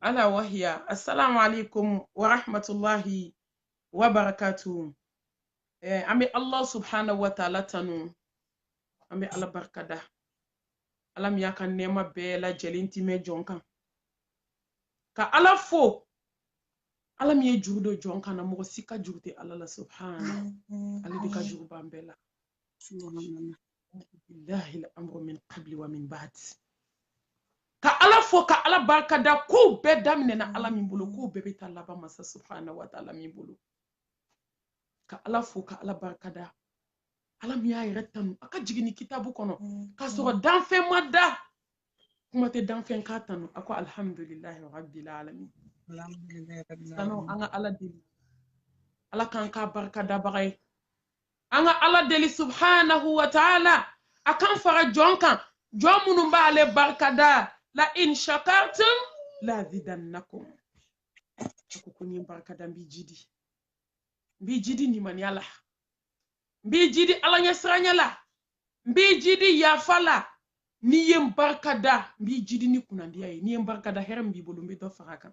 ala wahiya assalamu alaikum wa rahmatullahi wa barakatuh eh, an bɛ allah subhanahu wa taala tanu an bɛ ala barika da ala min y'a ka nɛɛma bɛɛ lajɛlen timɛ jɔn kan ka ala fo ala min ye juru don jɔn kan na mɔgɔ si ka juru tɛ ala la subhana ale de ka juru b'an bɛɛ la ka ala fo ka ala barika da kow bɛɛ daminɛna ala min bolo kow bɛɛ bɛ taa laban masa subahana wa taala min bolo ka ala fo ka ala barika da ala min y'a yɛrɛ tanu a ka jiginni kitabu kɔnɔ mm. k'a sɔrɔ danfɛn ma da kuma tɛ danfɛn k'a tanu a ko alihamudulilahi rabbil alamin sanu an ka ala deli ala k'an k'a barikadabaga ye an ka ala deli subhanahu wa taala a k'an fara jɔn kan jɔn minnu b'ale barikada la in shakartum la zidannakum a ko ko n'i ye n barikada n b'i jidi n b'i jidi limaniya la n b'i jidi ala ɲɛsiranya la n b'i jidi yafa la n'i ye n barikada n b'i jidi ni kunnandiya ye n'i ye n barikada hɛrɛ min b'i bolo n bɛ dɔ fara kan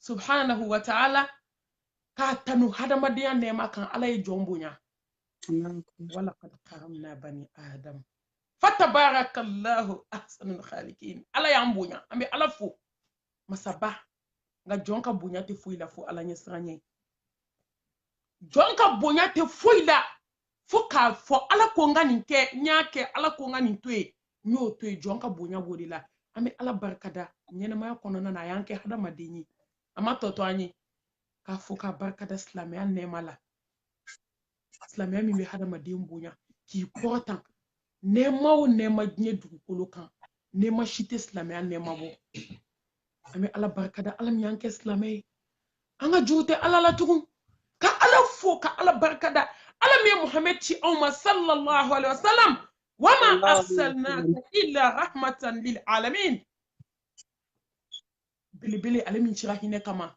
subhanahu wa ta'ala k'a tanu hadamadenya nɛɛma kan ala ye jɔn bonya walakad karamna bani adam fatabarakallahu ahsanul khaliqin ala y'an bonya an bɛ ala fo masaba nka jɔn ka bonya tɛ foyi la fo ala ɲɛsiranya jɔn ka bonya tɛ foyi la fo k'a fɔ ala ko n ka nin kɛ n y'a kɛ ala ko n ka nin to yen n y'o to yen jɔn ka bonya b'o de la an bɛ ala barikada ɲɛnɛmaya kɔnɔna na a y'an kɛ hadamaden ye a ma tɔ to an ye k'a fo k'a barikada silamɛya nɛɛma la silamɛya min bɛ hadamaden bonya k'i kɔrɔta nɛɛma o nɛɛma diɲɛ dugukolo kan nɛɛma si tɛ silamɛya nɛɛma bɔ an bɛ ala barika da ala min y'an kɛ silamɛ ye an ka juru tɛ ala la tugun ka ala fo ka ala barika da ala min ye muhamɛd ci anw ma sallallahu alaihi wa sallam wama arsalnaka illa rahmatan lil alamin belebele ale min cira hinɛ kama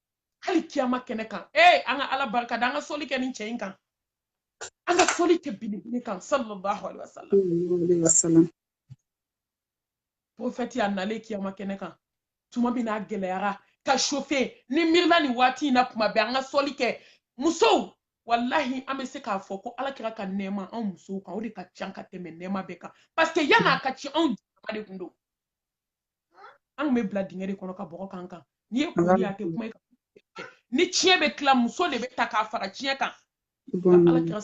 hali kiyama kɛnɛ kan ee an ka ala barika da an ka soli kɛ nin cɛ in kan an ka soli kɛ belebele kan sallallahu alaihi wasallam prophète a nalen kiyama kɛnɛ kan tuma min n'a gɛlɛyara ka chauffer n'i miirila nin waati in na kuma bɛɛ an ka soli kɛ musow walahi an bɛ se k'a fɔ ko ala kira ka nɛɛma anw musow kan o de ka ca ka tɛmɛ nɛɛma bɛɛ kan parce que yan'a ka ci anw jama de kun don an kun bɛ bila dingɛ de kɔnɔ ka bɔgɔ k'an kan n'i ye kuru ye a tɛ kuma ni tiɲɛ bɛ tila muso de bɛ ta k'a fara tiɲɛ kan ala kira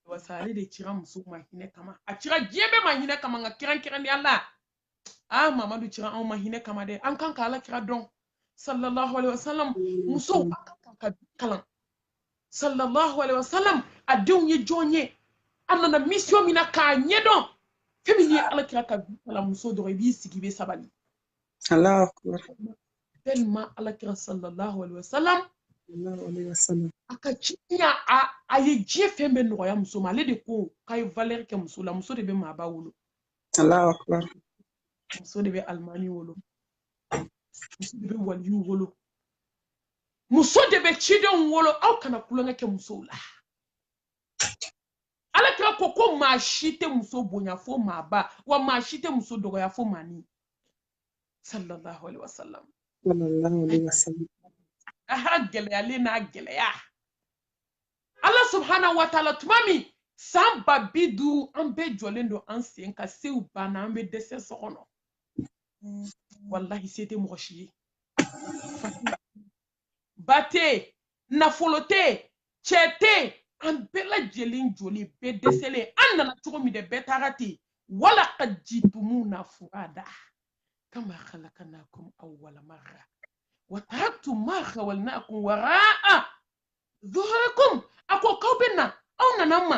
wasa ale de cira muso ma hinɛ kama a cira diɲɛ bɛɛ ma hinɛ kama nka kɛrɛnkɛrɛnnenya la a mamadu cira anw ma hinɛ kama dɛ an kan ka ala kira dɔn sallallahu alaihi wasallam musow an kan ka kalan sallallahu alaihi wasallam a denw ye jɔn ye a nana mission min na k'a ɲɛdɔn fɛn min ye ala kira ka vie kalan muso dɔrɔn i b'i sigi i bɛ sabali allahu akbar tellement ala kira sallallahu alaihi wasallam a ka ciya a ye diɲɛ fɛn bɛɛ nɔgɔya muso ma ale de ko k'a ye valeur kɛ muso la muso de bɛ maaba wolo allahu akbar muso de bɛ alimami wolo muso de bɛ waliyu wolo muso de bɛ cidenw wolo aw kana kulonkɛ kɛ musow la ala kira ko ko maa si tɛ muso bonya fo maaba wa maa si tɛ muso dɔgɔya fo maanin sallallahu alaihi wasallam aha gɛlɛyalen n'a gɛlɛya ala subhanahu wa taala tuma min san ba bi duuru an bɛɛ jɔlen don an sen ka sew banna an bɛ dɛsɛ so kɔnɔ walahi se tɛ mɔgɔ si ye ba tɛ nafolo tɛ cɛ tɛ an bɛɛ lajɛlen jɔlen bɛɛ dɛsɛlen an nana cogo min dɛ bɛɛ taara ten walaqad jitumuna furada kama khalaqnakum awwala marra wa taraktum ma khawalnakum waraa zuhurikum a ko k'aw bɛ na aw nana an ma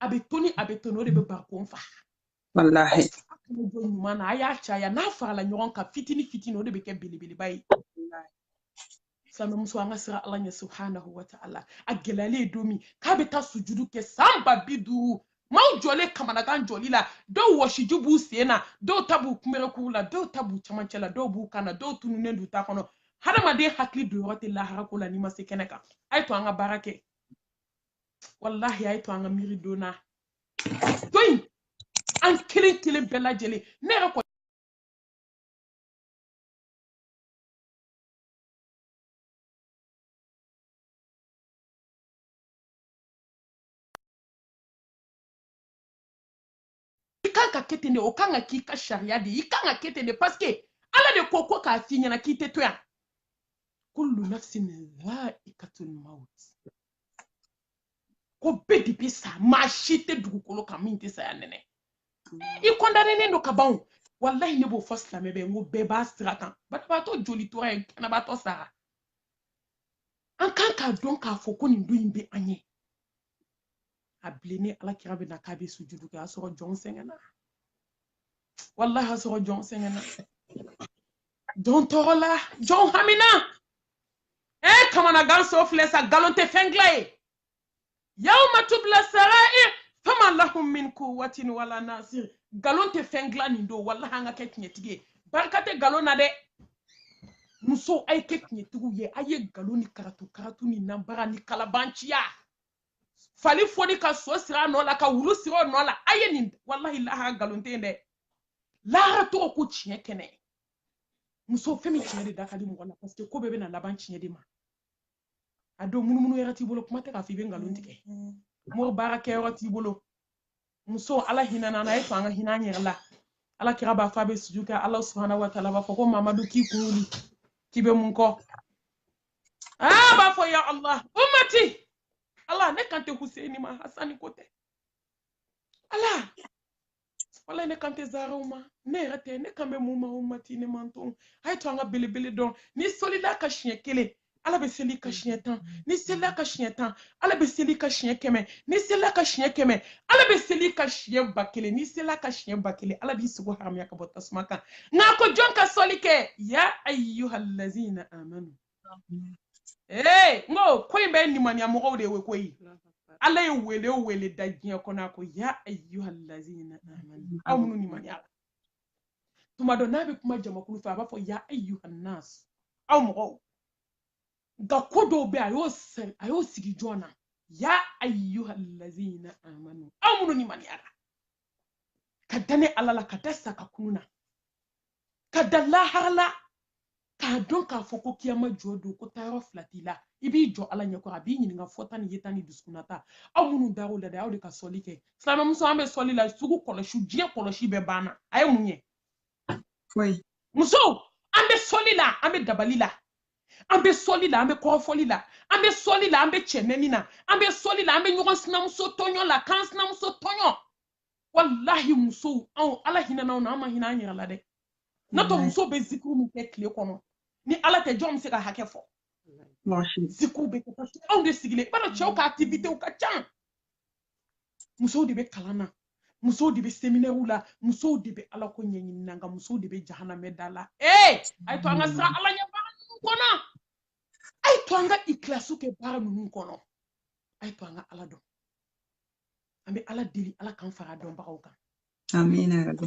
a bɛ toni a bɛ toni o de bɛ barikon fa walahi jɔ ɲuman na a y'a caya n'a farala ɲɔgɔn kan fitini fitini o de bɛ kɛ belebeleba ye silamɛmuso an ka siran ala ɲɛ subhanahu wa taala a gɛlɛyalen ye don min k'a bɛ taa sujudu kɛ san ba bi duuru maaw jɔlen kamanagan jɔli la dɔw wɔsiji b'u sen na dɔw ta b'u kunberekuru la dɔw ta b'u camancɛ la dɔw b'u kan na dɔw tununnen d'u ta kɔnɔ hadamaden hakili don yɔrɔ tɛ lahara ko la n'i ma se kɛnɛ kan a ye to an ka baara kɛ walahi a ye to an ka miiri don na to in an kelen kelen bɛɛ lajɛlen ne yɛrɛ kɔni i kan ka kɛ ten de o kan ka k'i ka sariya de i kan ka kɛ ten de parce que ala de ko ko k'a f'i ɲɛna k'i tɛ to yan kullu nafsin dhaikatul maut ko bɛɛ de bɛ sa maa si tɛ dugukolo kan min tɛ saya nɛnɛ i kɔndanennen don ka ban o walahi ne b'o fɔ silamɛ bɛɛ n ko bɛɛ b'a sira kan banabaatɔ joli tora yen kɛnɛbaatɔ sara an kan k'a dɔn k'a fɔ ko nin don in bɛ an ɲɛ a bilennen ala kira bɛ na k'a bɛ sujudu kɛ a sɔrɔ jɔn sɛgɛnna walahi a sɔrɔ jɔn sɛgɛnna jɔn tɔɔrɔla jɔn hamina ɛ kamanagan so filɛ sa nkalon tɛ fɛn dilan yen yawma tubila sara'ir fama lahum min kuwatin wala nasir nkalon tɛ fɛn dilan nin don walahi an ka kɛ tiɲɛtigi ye barika tɛ nkalon na dɛ muso a ye kɛ tiɲɛtigiw ye a ye nkalon ni karatu karatu ni nanbara ni kalabanciya fali foni ka so siri a nɔ la ka wulu siri o nɔ la a ye nin walahi lahara nkalon tɛ yen dɛ lahara tɔgɔ ko tiɲɛ kɛnɛ muso fɛn min tiɲɛ de da ka di mɔgɔ la parce que ko bɛɛ bɛna laban tiɲɛ de ma a don munumunu yɛrɛ t'i bolo kuma tɛ k'a fɔ i bɛ nkalon tigɛ mɔgɔ baara kɛyɔrɔ t'i bolo muso ala hinɛna an na a ye to an ka hinɛ an yɛrɛ la ala kira b'a fɔ a bɛ suju kɛ ala subahana wa taala b'a fɔ ko mamadu k'i kun wuli k'i bɛ mun kɔ aa b'a fɔ ya allah ummati ala ne kan tɛ huseni ma hasani ko tɛ ala wala ne kan tɛ zaraw ma ne yɛrɛ tɛ ne kan bɛ mun ma ummati ne mantɔn a ye to an ka belebele dɔn n'i sɔlila a kan siɲɛ kelen ala bɛ seli i kan siɲɛ tan n'i selila a kan siɲɛ tan ala bɛ seli i kan siɲɛ kɛmɛ n'i selila a kan siɲɛ kɛmɛ ala bɛ seli i kan siɲɛ ba kelen n'i selila a kan siɲɛ ba kelen ala b'i sogo haramuya ka bɔ tasuma kan nka ko jɔn ka sɔli kɛ ya ayyuhallazina amanu ee n ko ko in bɛ nimaniya mɔgɔw de ye koyi ala ye wele o wele da diɲɛ kɔnɔ a ko ya ayyuhallazina amanu aw minnu nimaniyala tuma dɔ n'a bɛ kuma jamakulu fɛ a b'a fɔ ya ayyuhannas aw mɔgɔw nka ko dɔw bɛ a y'o a y'o sigi jɔn na ya ayyuhallazina amanu aw minnu nimaniyara ka da ne ala la ka da sa ka kunun na ka da lahara la k'a dɔn k'a fɔ ko kiyama jɔ don ko taayɔrɔ fila t'i la i b'i jɔ ala ɲɛkɔrɔ a b'i ɲininka fɔta ni yeta ni dusukunnata aw minnu dar'o la dɛ aw de ka sɔli kɛ silamɛmuso an bɛ sɔli la sugu kɔlɔsi diɲɛ kɔlɔsi bɛɛ banna a ye mun ye musow an bɛ sɔli la an bɛ dabali la an bɛ sɔli la an bɛ kɔrɔfɔli la an bɛ sɔli la an bɛ cɛnɛni na an bɛ sɔli la an bɛ ɲɔgɔn sinamuso tɔɲɔ la k'an sinamuso tɔɲɔ walahi musow anw ala hinɛna anw na an ma hinɛ an yɛrɛ la dɛ n'o tɛ musow bɛ zikuru min kɛ tile kɔnɔ ni ala tɛ jɔn bɛ se k'a hakɛ fɔ zikuru bɛ kɛ parce que anw de sigilen i b'a dɔn cɛw ka activitew ka ca musow de bɛ kalan na musow de bɛ seminɛriw la musow de bɛ ala ko ɲɛɲini na nka musow de bɛ jahanamɛ da la ee a ye to an ka siran ala ɲɛ baara ninnu kɔnɔ a ye to an ka ikilasu kɛ baara ninnu kɔnɔ a ye to an ka ala dɔn an bɛ ala deli ala k'an fara dɔnbagaw kan amina rabi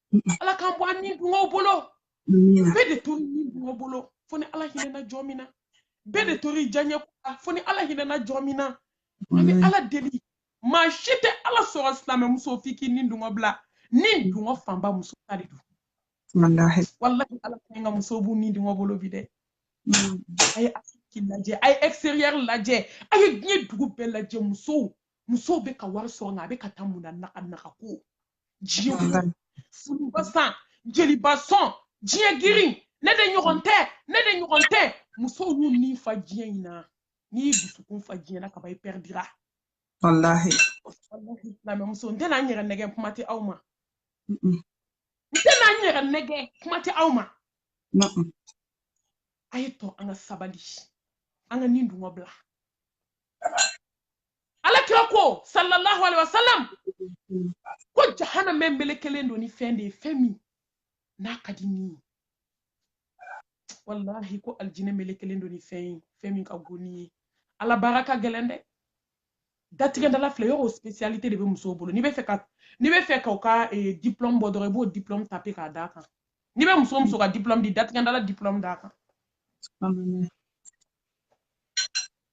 ala k'an bɔ an ni dungɔ bolo bɛɛ de tori ni dungɔ bolo fo ni ala hinɛna jɔn min na bɛɛ de tori diyaɲɛ ko la fo ni ala hinɛna jɔn min na an bɛ ala deli maa si tɛ ala sɔrɔ silamɛmuso f'i k'i ni dungɔ bila ni dungɔ fanba muso ta de don walahi ala ka ɲi ka muso b'u ni dungɔ bolo bi dɛ a ye afiriki lajɛ a ye extérieur lajɛ a ye diɲɛ dugu bɛɛ lajɛ musow musow bɛ ka wari sɔrɔ nka a bɛ ka taa mun na naga naga ko diɲɛ kɔnɔ furuba san jeliba sɔn diɲɛ girin ne de ɲɔgɔn tɛ ne de ɲɔgɔn tɛ musow y'u ni fa diɲɛ in na n'i y'i dusukun fa diɲɛ na kaban i pɛridira walahi silamɛmuso n tɛna n yɛrɛ nɛgɛ kuma tɛ aw ma n tɛna n yɛrɛ nɛgɛ kuma tɛ aw ma a ye to an ka sabali an ka ni dungɔ bila ala kira ko sallallahu alaihi wasallam ko jahanama melekelen don ni fɛn de ye fɛn min n'a ka di ni ye wallahi ko aljinɛ melekelen don ni fɛn ye fɛn min ka go ni ye ala baara ka gɛlɛn dɛ datigɛdala filɛ yɔrɔ spécialité de bɛ musow bolo n'i bɛ fɛ ka n'i bɛ fɛ ka u ka eh, diplôme bɔ dɔrɔn i b'o diplôme tape k'a d'a kan n'i bɛ muso muso ka diplôme di datigɛdala diplôme d'a kan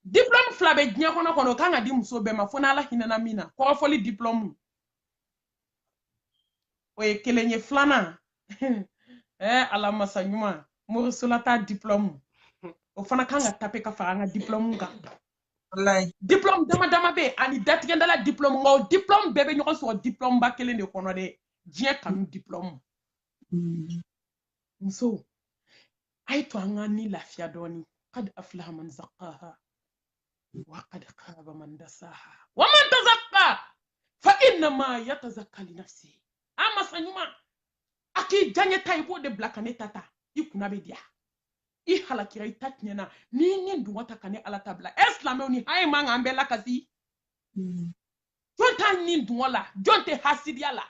diplɔmu fila bɛ diɲɛ kɔnɔ kɔnɔ o kan ka di muso bɛɛ ma fo n'ala hinɛna min na kɔrɔfɔli diplɔmu o ye kelen ye filanan ɛɛ eh, ala masa ɲuman morisolata diplɔmu o fana kan ka tape ka fara an ka diplɔmu kan diplɔmu dama dama bɛ yen ani datigɛdala diplɔmu nka o diplɔmu bɛɛ bɛ ɲɔgɔn sɔrɔ diplɔmuba kelen de kɔnɔ dɛ diɲɛ kanu diplɔmu mm. musow a ye to an ka ni lafiya dɔɔni qad aflaha man zakkaha wa qad khaba man dasaha wa man tazakka fa innama yatazakka li nafsi a masa ɲuman a k'i diyaɲɛ ta i b'o de bila ka ne ta ta i kunna bɛ diya i halakira i ta tiɲɛna n'i ni dungɔ ta ka ne ala ta bila ɛ silamɛw nin haya man kan bɛɛ lakasi jɔn t'a ni dungɔ la jɔn tɛ hasidiya la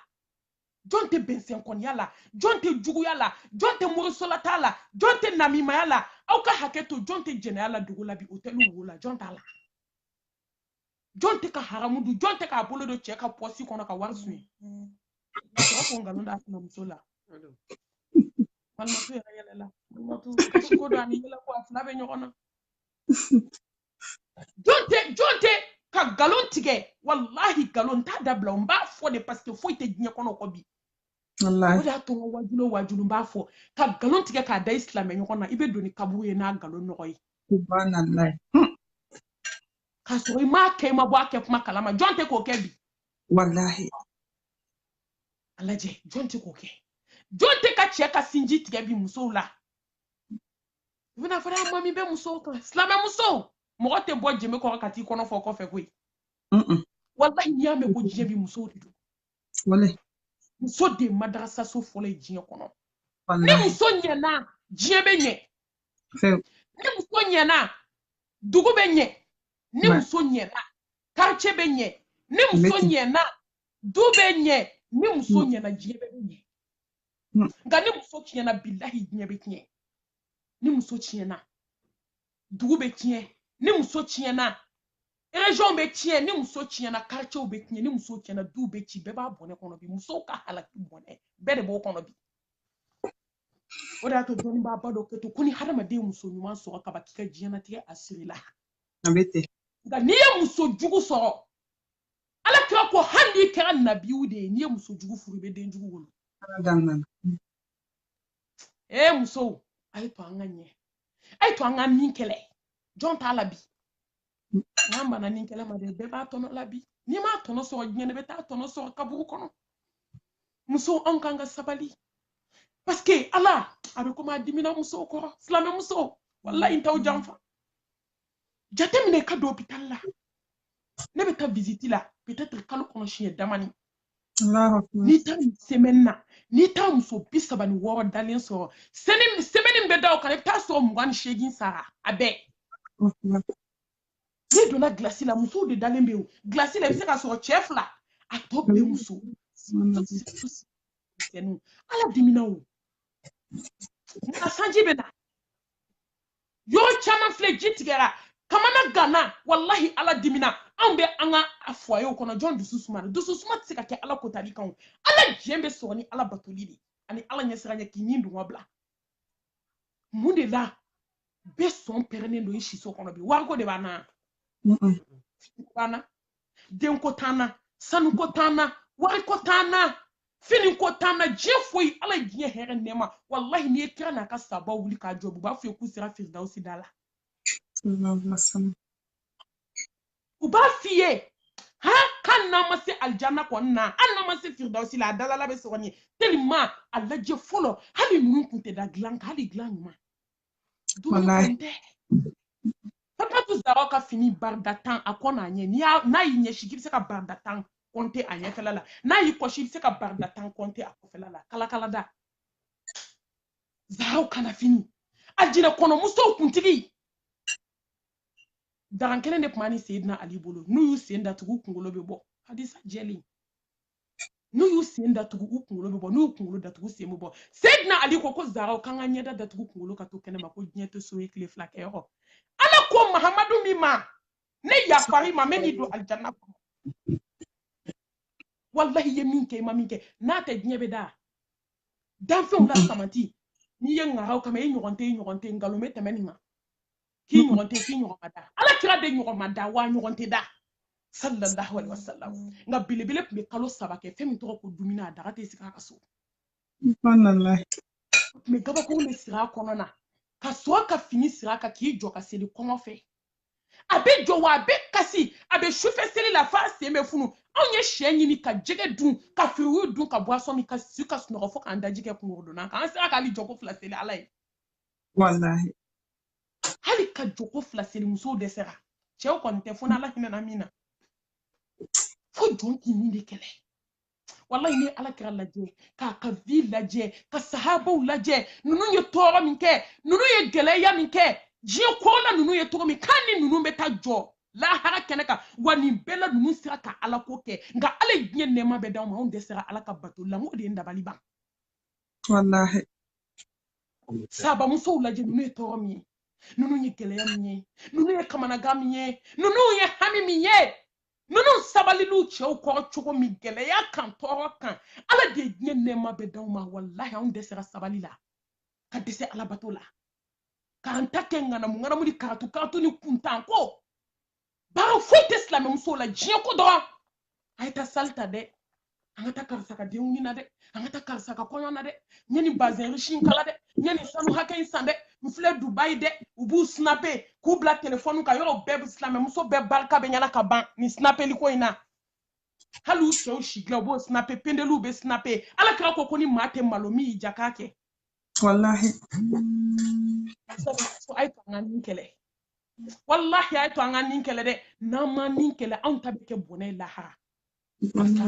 jɔn tɛ bɛnsɛnkɔniya la jɔn tɛ juguya la jɔn tɛ morisolata la jɔn tɛ namimaya la aw ka hakɛ to jɔn tɛ jɛnɛya la dugu la bi otɛli ko la jɔn t'a la jɔn tɛ ka haramu dun jɔn tɛ k'a bolo don cɛ ka pɔsi kɔnɔ ka wari suɲɛ sɔrɔ ka nkalon d'a sinamuso la malimatu yɛrɛ yɛlɛla malimatu ko don ani yɛlɛ ko a fila bɛ ɲɔgɔn na jɔn tɛ jɔn tɛ ka nkalon tigɛ walahi nkalon n t'a dabila n b'a fɔ de paseke foyi tɛ diɲɛ kɔnɔ kɔ bi o de y'a to n ka wajulu o wajulu n b'a fɔ ka nkalon tigɛ k'a da i silamɛ ɲɔgɔn na i bɛ don ni kaburu ye n'a nkalon nɔgɔ ye hmm. k'a sɔrɔ i m'a kɛ i ma bɔ a kɛ kuma kalama jɔn tɛ k'o kɛ bi walahi a lajɛ jɔn tɛ k'o kɛ jɔn tɛ ka cɛ ka sinji tigɛ bi musow la u bɛna fɔ a ma min bɛ musow kan silamɛmusow mɔgɔ tɛ bɔ jɛmɛ kɔrɔ ka t'i kɔnɔ fɔ kɔfɛ koyi walahi n'i y'a mɛn ko diɲɛ bi musow de don muso de ye madarasaso fɔlɔ ye diɲɛ kɔnɔ ni muso ɲɛna diɲɛ bɛ ɲɛ ni muso ɲɛna dugu bɛ ɲɛ ni muso ɲɛna quartier bɛ ɲɛ ni muso ɲɛna du bɛ ɲɛ ni muso ɲɛna diɲɛ bɛ ɲɛ hmm. nka ni muso tiɲɛna bilahi diɲɛ bɛ tiɲɛ ni muso tiɲɛna dugu bɛ tiɲɛ ni muso tiɲɛna région bɛ tiɲɛ ni muso tiɲɛna quartier bɛ tiɲɛ ni muso tiɲɛna du bɛ ci bɛɛ b'a bɔnɛ kɔnɔ bi musow ka halaki bɔnɛ bɛɛ de b'o kɔnɔ bi o de y'a to dɔnnibaaba dɔ kɛ to ko ni hadamaden muso ɲuman sɔrɔ kaban k'i ka diɲɛnatigɛ a sirila nka n'i ye muso jugu sɔrɔ ala kira ko hali n'i kɛra nabiyu de ye n'i ye muso jugu furu i bɛ den jugu wolo ee musow a ye to an ka ɲɛ a ye to an ka nin kɛlɛ jɔn t'a la bi n'an banna nin kɛlɛ ma dɛ bɛɛ b'a tɔnɔ la bi n'i m'a tɔnɔ sɔrɔ diɲɛ na i bɛ taa tɔnɔ sɔrɔ kaburu kɔnɔ musow anw kan ka sabali paske ala a bɛ komi a dimina musow kɔrɔ silamɛ musow walayi n t'aw janfa jateminɛ ka don hopitali la ne bɛ taa visite la peut-être kalo kɔnɔ siɲɛ damani n'i taara semaine na n'i taara muso bi saba ni wɔɔrɔ dalen sɔrɔ semaine min bɛ da o kan i bɛ taa sɔrɔ mugan ni seegin sara a bɛɛ n'i donna gilasi la musow de dalen bɛ yen gilasi la i bɛ se ka sɔrɔ cɛ fila a tɔ bɛɛ muso ala dimina o nka sanji bɛ na yɔrɔ caman filɛ ji tigɛra kamanaganna walahi ala dimina anw bɛ an ka fuwayew kɔnɔ jɔn dusu sumana dusu suma tɛ se ka kɛ ala kotali kan ala diɲɛ bɛ sɔrɔ ni ala batoli de ani ala ɲɛsiranya k'i nidungɔ bila mun de la bɛɛ sɔn pɛrɛnnen don i siso kɔnɔ bi wariko de b'an na b'an na denko t'an na sanuko t'an na wariko t'an na finiko t'an na diɲɛ foyi ala ye diɲɛ hɛrɛ nɛɛma walahi n'i ye kira n'a ka sahaba wuli ka jɔ u b'a f'i ye k'u sera firidawusi da la u b'a f'i ye ha hali n'an ma se alijanna kɔni na hali n'an ma se firidawusi la a dalala bɛ sɔrɔ nin ye teliman a lajɛ fɔlɔ hali ninnu kun tɛ da dilan kan hali dilan ɲuman Fatou Zaraw ka fini barida tan a kɔ n'a ɲɛ n'a y'i ɲɛsi k'i bɛ se ka barida tan kɔnte a ɲɛfɛla la n'a y'i kɔsi i bɛ se ka barida tan kɔnte a kɔfɛla la kalakalada Zaraw kanna fini alijinɛ kɔnɔ musow kuntigi dara kelen de tun b'a ni Seyidina Ali bolo n'u y'u sen datugu u kunkolo bɛ bɔ hadisa jɛlen n'u y'u sen datugu u kunkolo bɛ bɔ n'u y'u kunkolo datugu sen bɛ bɔ seyidina ali ko ko zaraw k'an ka ɲɛda datugu kunkolo ka to kɛnɛma ko diɲɛ tɛ so ye tile fila kɛ yɔrɔ ala ko mahamadu min ma ne yafari ma mɛ n'i don alijanna kɔnɔ walahi i ye min kɛ i ma min kɛ n'a tɛ diɲɛ bɛ da danfɛnw la samati n'i ye ŋaraw kama i ɲɔgɔn tɛ i ɲɔgɔn tɛ nkalon bɛ tɛmɛ nin ma k'i ɲɔgɔn tɛ k'i ɲɔgɔn ma da ala kira de ɲɔgɔn ma da wa ɲɔgɔn tɛ da sallallahu alaihi wasallam nka belebele tun bɛ kalo saba kɛ fɛn min tɔgɔ ko dumuni a daga tɛ sigi a ka so mɛ gabakuru bɛ siri a kɔnɔ na ka sɔrɔ ka fini siri a kan k'i jɔ ka seli kɔngɔ fɛ a bɛ jɔ wa a bɛ kasi a bɛ sufɛ seli la f'a sen bɛ funu anw ye sɛ ɲimi ka jɛgɛ dun ka fruit dun ka boisson min ka si ka sunɔgɔ fo k'an daji kɛ kunkɔrɔdonnan kan an sera ka hali jɔko fila seli ala ye walahi hali ka jɔko fila seli musow dɛsɛra cɛw kɔni tɛ fo n'ala hinɛna min na fo jɔn k'i nin de kɛlɛ walayi n'i ala kira lajɛ k'a ka vi lajɛ ka sahabaw lajɛ ninnu ye tɔɔrɔ min kɛ ninnu ye gɛlɛya min kɛ diɲɛ kɔrɔ la ninnu ye tɔɔrɔ min kan ni ninnu bɛ taa jɔ lahara kɛnɛ kan wa nin bɛɛ la ninnu sera ka ala ko kɛ nka ala ye diɲɛ nɛɛma bɛɛ d'anw ma anw dɛsɛra ala ka bato la n ko de ye n dabali ban wallaahi sahaba musow lajɛ ninnu ye tɔɔrɔ min ye ninnu ye gɛlɛya min ye ninnu ye kamanagan min ye ninnu ye hami min ye ninnu sabalila u cɛw kɔrɔ cogo min gɛlɛya kan tɔɔrɔ kan ala de ye diɲɛ nɛɛma bɛɛ d'anw ma walahi anw dɛsɛra sabali la ka dɛsɛ alabato la k'an ta kɛ ŋanamu ŋanamu ni karatu karatu ni kuntanko baara foyi tɛ silamɛmusow la diɲɛ ko dɔrɔn a ye taa sali ta dɛ an ka taa karisa ka denkundi na dɛ an ka taa karisa ka kɔɲɔ na dɛ n ye nin bazɛn riche in kala dɛ n ye nin sanu hakɛ in san dɛ n filɛ dubayi dɛ u b'u sinape k'u bila telefɔni kan yɔrɔ bɛɛ silamɛmuso bɛɛ barika bɛ ɲini ka ban nin sinapeli ko in na hali u sɛw sigilan u b'o sinape pendeliw bɛ sinape ala kira ko ko ni maa tɛ malo min y'i diya k'a kɛ walahi a ye to an ka nin kɛlɛ wallahi a ye to an ka nin kɛlɛ dɛ n'an ma nin kɛlɛ anw ta bɛ kɛ bɔnɛ ye lahara parce que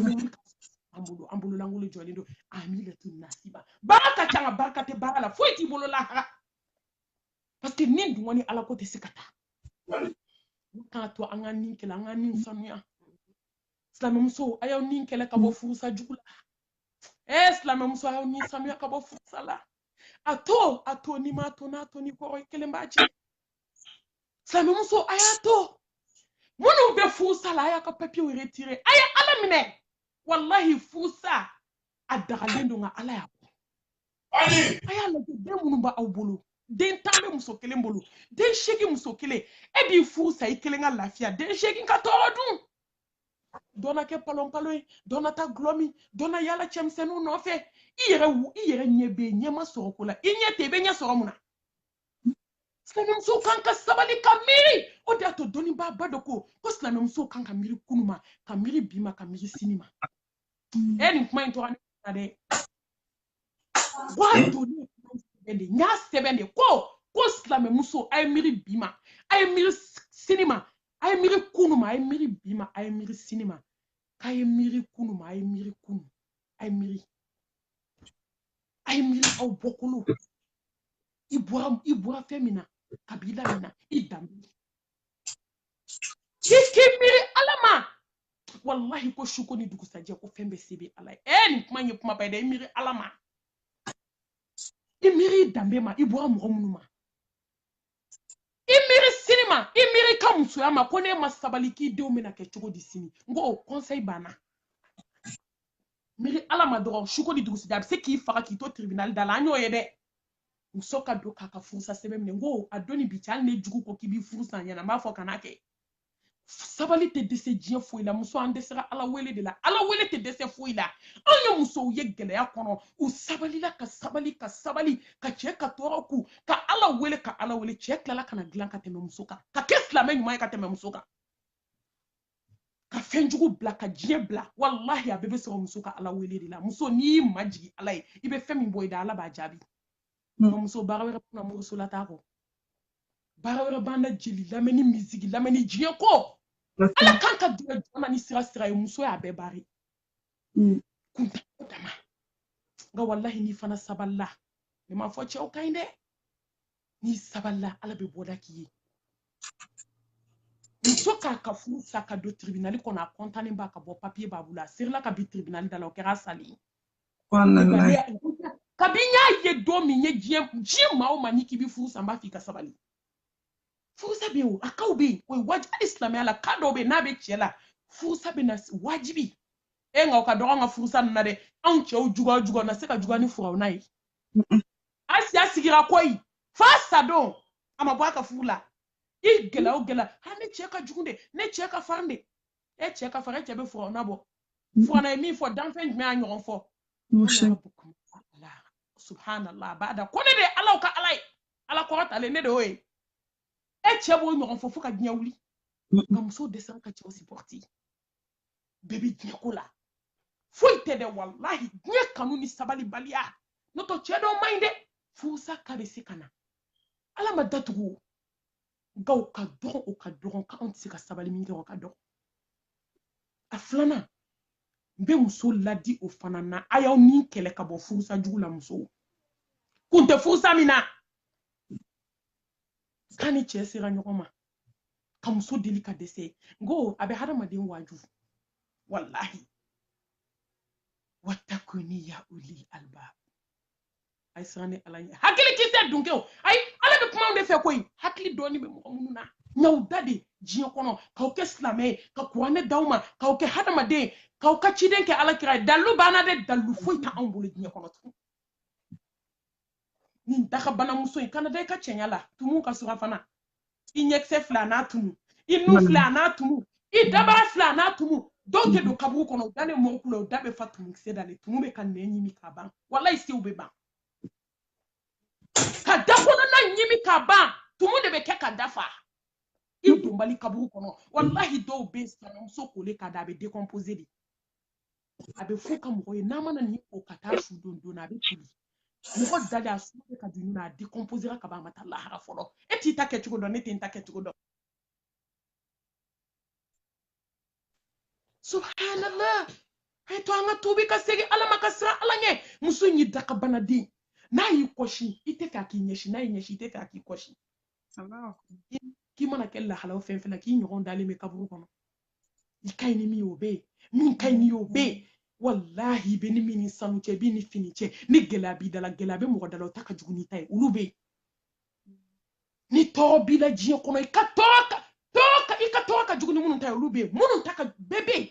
an bololankolon jɔlen don amilatun nasiba baara ka ca nka barika tɛ baara la foyi t'i bolo lahara parce que nin dungɔ ni ala ko tɛ se ka taa k'a to an ka nin kɛlɛ an ka nin sanuya silamɛmuso a y'aw ni kɛlɛ ka bɔ mm. furusa jugu la ɛ eh, silamɛmuso a y'aw ni sanuya ka bɔ furusa la a to a to n'i m'a to n'a to ni kɔrɔ i kelen b'a jɛ silamɛmuso a y'a to minnu bɛ furusa la a y'a ka papiyew retire a ye ala minɛ walahi furusa a dagalen don nka ala y'a bɔ a y'a lajɛ den minnu b'aw bolo den tan bɛ muso kelen bolo den seegin muso kelen e b'i furu sa i kelen ka lafiya den seegin ka tɔɔrɔ dun dɔ na kɛ palonpalon ye dɔ na taa gulɔ min dɔ na yala cɛmisɛnninw nɔfɛ i yɛrɛ wu i yɛrɛ ɲɛ bɛ yen ɲɛ ma sɔrɔ ko la i ɲɛ tɛ i bɛ ɲɛ sɔrɔ mun na silamɛmusow kan ka sabali ka miiri o de y'a to dɔnnibaaba dɔ ko ko silamɛmusow kan ka miiri kunu ma ka miiri bi ma ka miiri sini ma ɛ nin kuma in tɔgɔ ne na dɛ w'a to ne sɛbɛn de n y'a sɛbɛn de ko ko silamɛmuso a ye miiri bi ma a ye miiri sini ma a ye miiri kunu ma a ye miiri bi ma a ye miiri sini ma k'a ye miiri kunu ma a ye miiri kunu a ye miiri a ye miiri aw bɔkolo i bɔra i bɔra fɛn min na kabila min na i danbe i k'i miiri ala ma walahi ko su ko ni dugusajɛ ko fɛn bɛɛ se bɛ ala ye ɛɛ nin kuma in ye kumaba ye dɛ i miiri ala ma i miiri i danbe ma i bɔra mɔgɔ minnu ma i miiri sini ma i miiri i ka musoya ma ko n'e ma sabali k'i denw bɛna kɛ cogo di sini n ko o conseil banna miiri ala ma dɔgɔ suko ni dugusajɛ a bɛ se k'i faga k'i to tribunal da la an y'o ye dɛ muso ka don k'a ka furusa sɛbɛn minɛ n ko a don ni bi cɛ hali ne jugu ko k'i b'i furu sa n ɲɛna n b'a fɔ kan'a kɛ sabali tɛ dɛsɛ diɲɛ foyi la muso an dɛsɛra ala wele de la ala wele tɛ dɛsɛ foyi la an ye musow ye gɛlɛya kɔnɔ u sabalila ka sabali ka sabali ka cɛ ka tɔɔrɔ kun ka ala wele ka ala wele cɛ tilala ka na dilan ka tɛmɛ muso kan ka kɛ silamɛ ɲuman ye ka tɛmɛ muso kan ka fɛn jugu bila ka diɲɛ bila walahi a bɛɛ bɛ sɔrɔ muso ka ala wele de la muso n'i y'i majigi ala ye i bɛ fɛn min bɔ i da ala b'a jaabi muso baara wɛrɛ b'an na moriso la taa kɔ baara wɛrɛ b'an na jeli lamɛnni miziki lamɛnni diɲɛ ko ala kan ka dɛmɛ dama ni sira sira ye muso y'a bɛɛ baari mm. kuntago dama nka walahi n'i fana sabalila ne m'a fɔ cɛw ka ɲi dɛ n'i sabalila ala bɛ bɔda k'i ye muso k'a ka furu sa ka don tribinali kɔnɔ a kɔntanen bɛ ka bɔ papiye b'a bolo a serila ka bin tribinali da la o kɛra sali ye kabi n y'a ye don min ye diɲɛ diɲɛ maa o maa n'i k'i bɛ furu sa n b'a f'i ka sabali furusa bɛ yen o a casw bɛ yen o ye wajibi hali silamɛya la cas dɔw bɛ yen n'a bɛ cɛ la furusa bɛ na wajibiya nka o ka dɔgɔ an ka furusa ninnu na dɛ anw cɛw juguya juguya na se ka juguya ni firawuna ye asiya sigira koyi f'a sadon a ma bɔ a ka furu la i gɛlɛya o gɛlɛya ha ne cɛ ka jugu de ne cɛ ka farin de e cɛ ka farin e cɛ bɛ firawuna bɔ firawuna ye min fɔ danfɛn jumɛn y'a ɲɔgɔn fɔ subhanallah abada ko ne de ye alaw ka ala ye ala kɔrɔtalen ne de y'o ye e cɛ b'o ɲɔgɔn fɔ fo ka diɲɛ wuli nka muso dɛsɛra ka cɛw sipɔriti bɛɛ bɛ diɲɛ ko la foyi tɛ dɛ walahi diɲɛ kanu ni sabalibaliya n'o tɛ cɛ dɔw man ɲi dɛ furusa ka bɛ se ka na ala ma datugu nka o ka dɔgɔn o ka dɔgɔn k'anw tɛ se ka sabali min kɛ o ka dɔgɔn a filanan n bɛ muso ladi o fana na a y'aw ni kɛlɛ ka bɔ furusa jugu la musow kun tɛ furusa min na k'a ni cɛ sera ɲɔgɔn ma ka muso deli ka dɛsɛ n ko a bɛ hadamaden waaju walahi watakuni ya ulil albab a ye siran ne ala ɲɛ hakili kisɛ dunkew ayi ala bɛ kuma aw de fɛ koyi hakili dɔɔni bɛ mɔgɔ minnu na n y'aw da de diɲɛ kɔnɔ k'aw kɛ silamɛ ye ka kuranɛ d'aw ma k'aw kɛ hadamaden k'aw ka ciden kɛ ala kira ye dalilu banna dɛ dalilu foyi tɛ anw bolo diɲɛ kɔnɔ tugun nin dakabanamuso i kana da i ka cɛɲa la tumu ka surafana i ɲɛkisɛ fila a n'a tumu i nu mm. fila a n'a tumu i dabara fila a n'a tumu dɔw tɛ don kaburu kɔnɔ u dalen mɔgɔw kun na u da bɛ fa tumukisɛ dalen tumu bɛ ka nɛn ɲimi ka ban walayi sew bɛ ban ka da kɔnɔna ɲimi ka ban tumu de bɛ kɛ ka da fa i donbali kaburu kɔnɔ walahi dɔw bɛ sinamuso kole ka da a bɛ décomposer de a bɛ f'u ka mɔgɔ ye n'a ma na ni o ka taa su don joona a bɛ toli mɔgɔ dalen a su bɛ ka dun na a décomposera ka ban a ma taa lahara fɔlɔ e t'i ta kɛcogo dɔn ne tɛ n ta kɛcogo dɔn subhanallah a ye to an ka tubi ka segin ala ma ka siran ala ɲɛ muso in y'i dakabanaden n'a y'i kɔsin i tɛ fɛ a k'i ɲɛsin n'a y'i ɲɛsin i tɛ fɛ a k'i kɔsin k'i mana kɛ lahalaw fɛn fɛn na k'i ɲɔgɔn dalen bɛ kaburu kɔnɔ i ka ɲi ni min ye o bɛ yen min ka ɲi n'i ye o bɛ yen walahi i bɛ ni min ni sanu cɛ i bɛ ni fini cɛ ni gɛlɛya b'i da la gɛlɛya bɛ mɔgɔ da la o ta ka jugu n'i ta ye olu bɛ yen ni tɔɔrɔ b'i la diɲɛ kɔnɔ i ka tɔɔrɔ ka jugu ni minnu ta ye olu bɛ yen minnu ta ka bɛɛ bɛ yen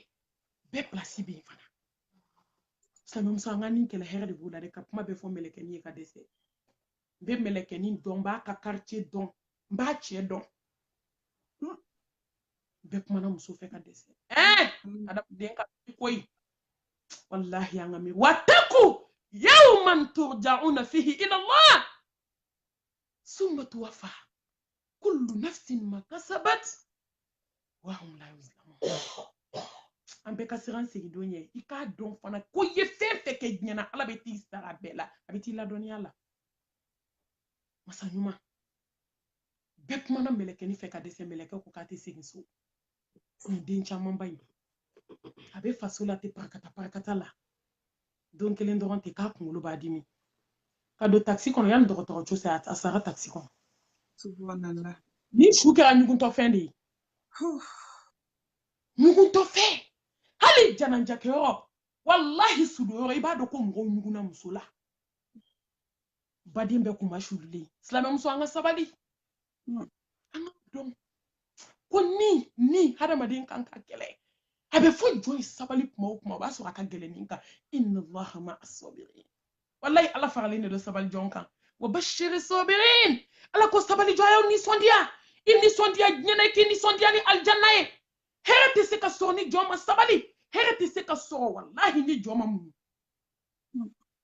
bɛɛ pilasi bɛ yen fana silamɛmuso an k'an ni kɛlɛ hɛrɛ de b'o la dɛ ka kuma bɛɛ fɔ mɛlɛkɛnin ye ka dɛsɛ n bɛ mɛlɛkɛnin dɔn n b'a ka quartier dɔn n b'a cɛ dɔn hmm. bɛɛ kumana muso fɛ ka dɛsɛ ɛɛ hmm. adamaden ka koyi walahi an ka miiri wataku yawman turjauna fihi ila allah summa tuwafa kullu nafsin ma kasabat wa hum la yuzlamun an bɛɛ ka siran segin don ɲɛ i k'a dɔn fana ko i ye fɛn fɛn kɛ diɲɛ na ala bɛ t'i sara bɛɛ la a bɛ t'i ladɔnniya la masa ɲuman bɛɛ kumana mɛlɛkɛnin fɛ ka dɛsɛ mɛlɛkɛ ko k'a tɛ segin so nin den camanba in a bɛ faso la ten parakata parakata la don kelen dɔrɔn ten k'a kunkolo b'a dimi ka don takisi kɔnɔ yanni dɔgɔtɔrɔso cɛ a sara takisi kɔnɔ ni su kɛra ɲuguntɔfɛn de ye ɲuguntɔfɛn hali janajakɛyɔrɔ walahi sudonyɔrɔ i b'a dɔn ko mɔgɔw ɲugunna muso la baden bɛɛ kunmasulilen silamɛmuso an ka sabali hmm. an k'a dɔn ko ni ni hadamaden kan ka kɛlɛ a bɛ fɔ jɔn ye sabali kuma o kuma o b'a sɔrɔ a ka gɛlɛn ni kan inna allaha ma'a sabirin walahi ala faralen de don sabali jɔn kan wa bashiri sabirin ala ko sabali jɔn a y'aw nisɔndiya i nisɔndiya diɲɛ na i k'i nisɔndiya ni alijanna ye hɛrɛ tɛ se ka sɔrɔ ni jɔn ma sabali hɛrɛ tɛ se ka sɔrɔ walahi ni jɔn ma muɲu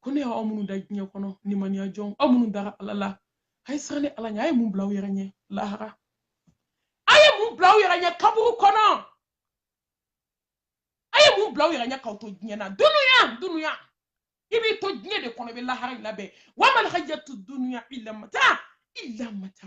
ko ne y'aw minnu da diɲɛ kɔnɔ nimaniya jɔn aw minnu dara ala la a ye siran ne ala ɲɛ a ye mun bila aw yɛrɛ ɲɛ lahara a ye mun bila aw yɛrɛ ɲɛ kaburu kɔnɔ a ye mun bila aw yɛrɛ ɲɛ k'aw to diɲɛ na dunuya dunuya i b'i to diɲɛ de kɔnɔ i bɛ lahara in labɛn wamal hayatu dunuya ilamata ilamata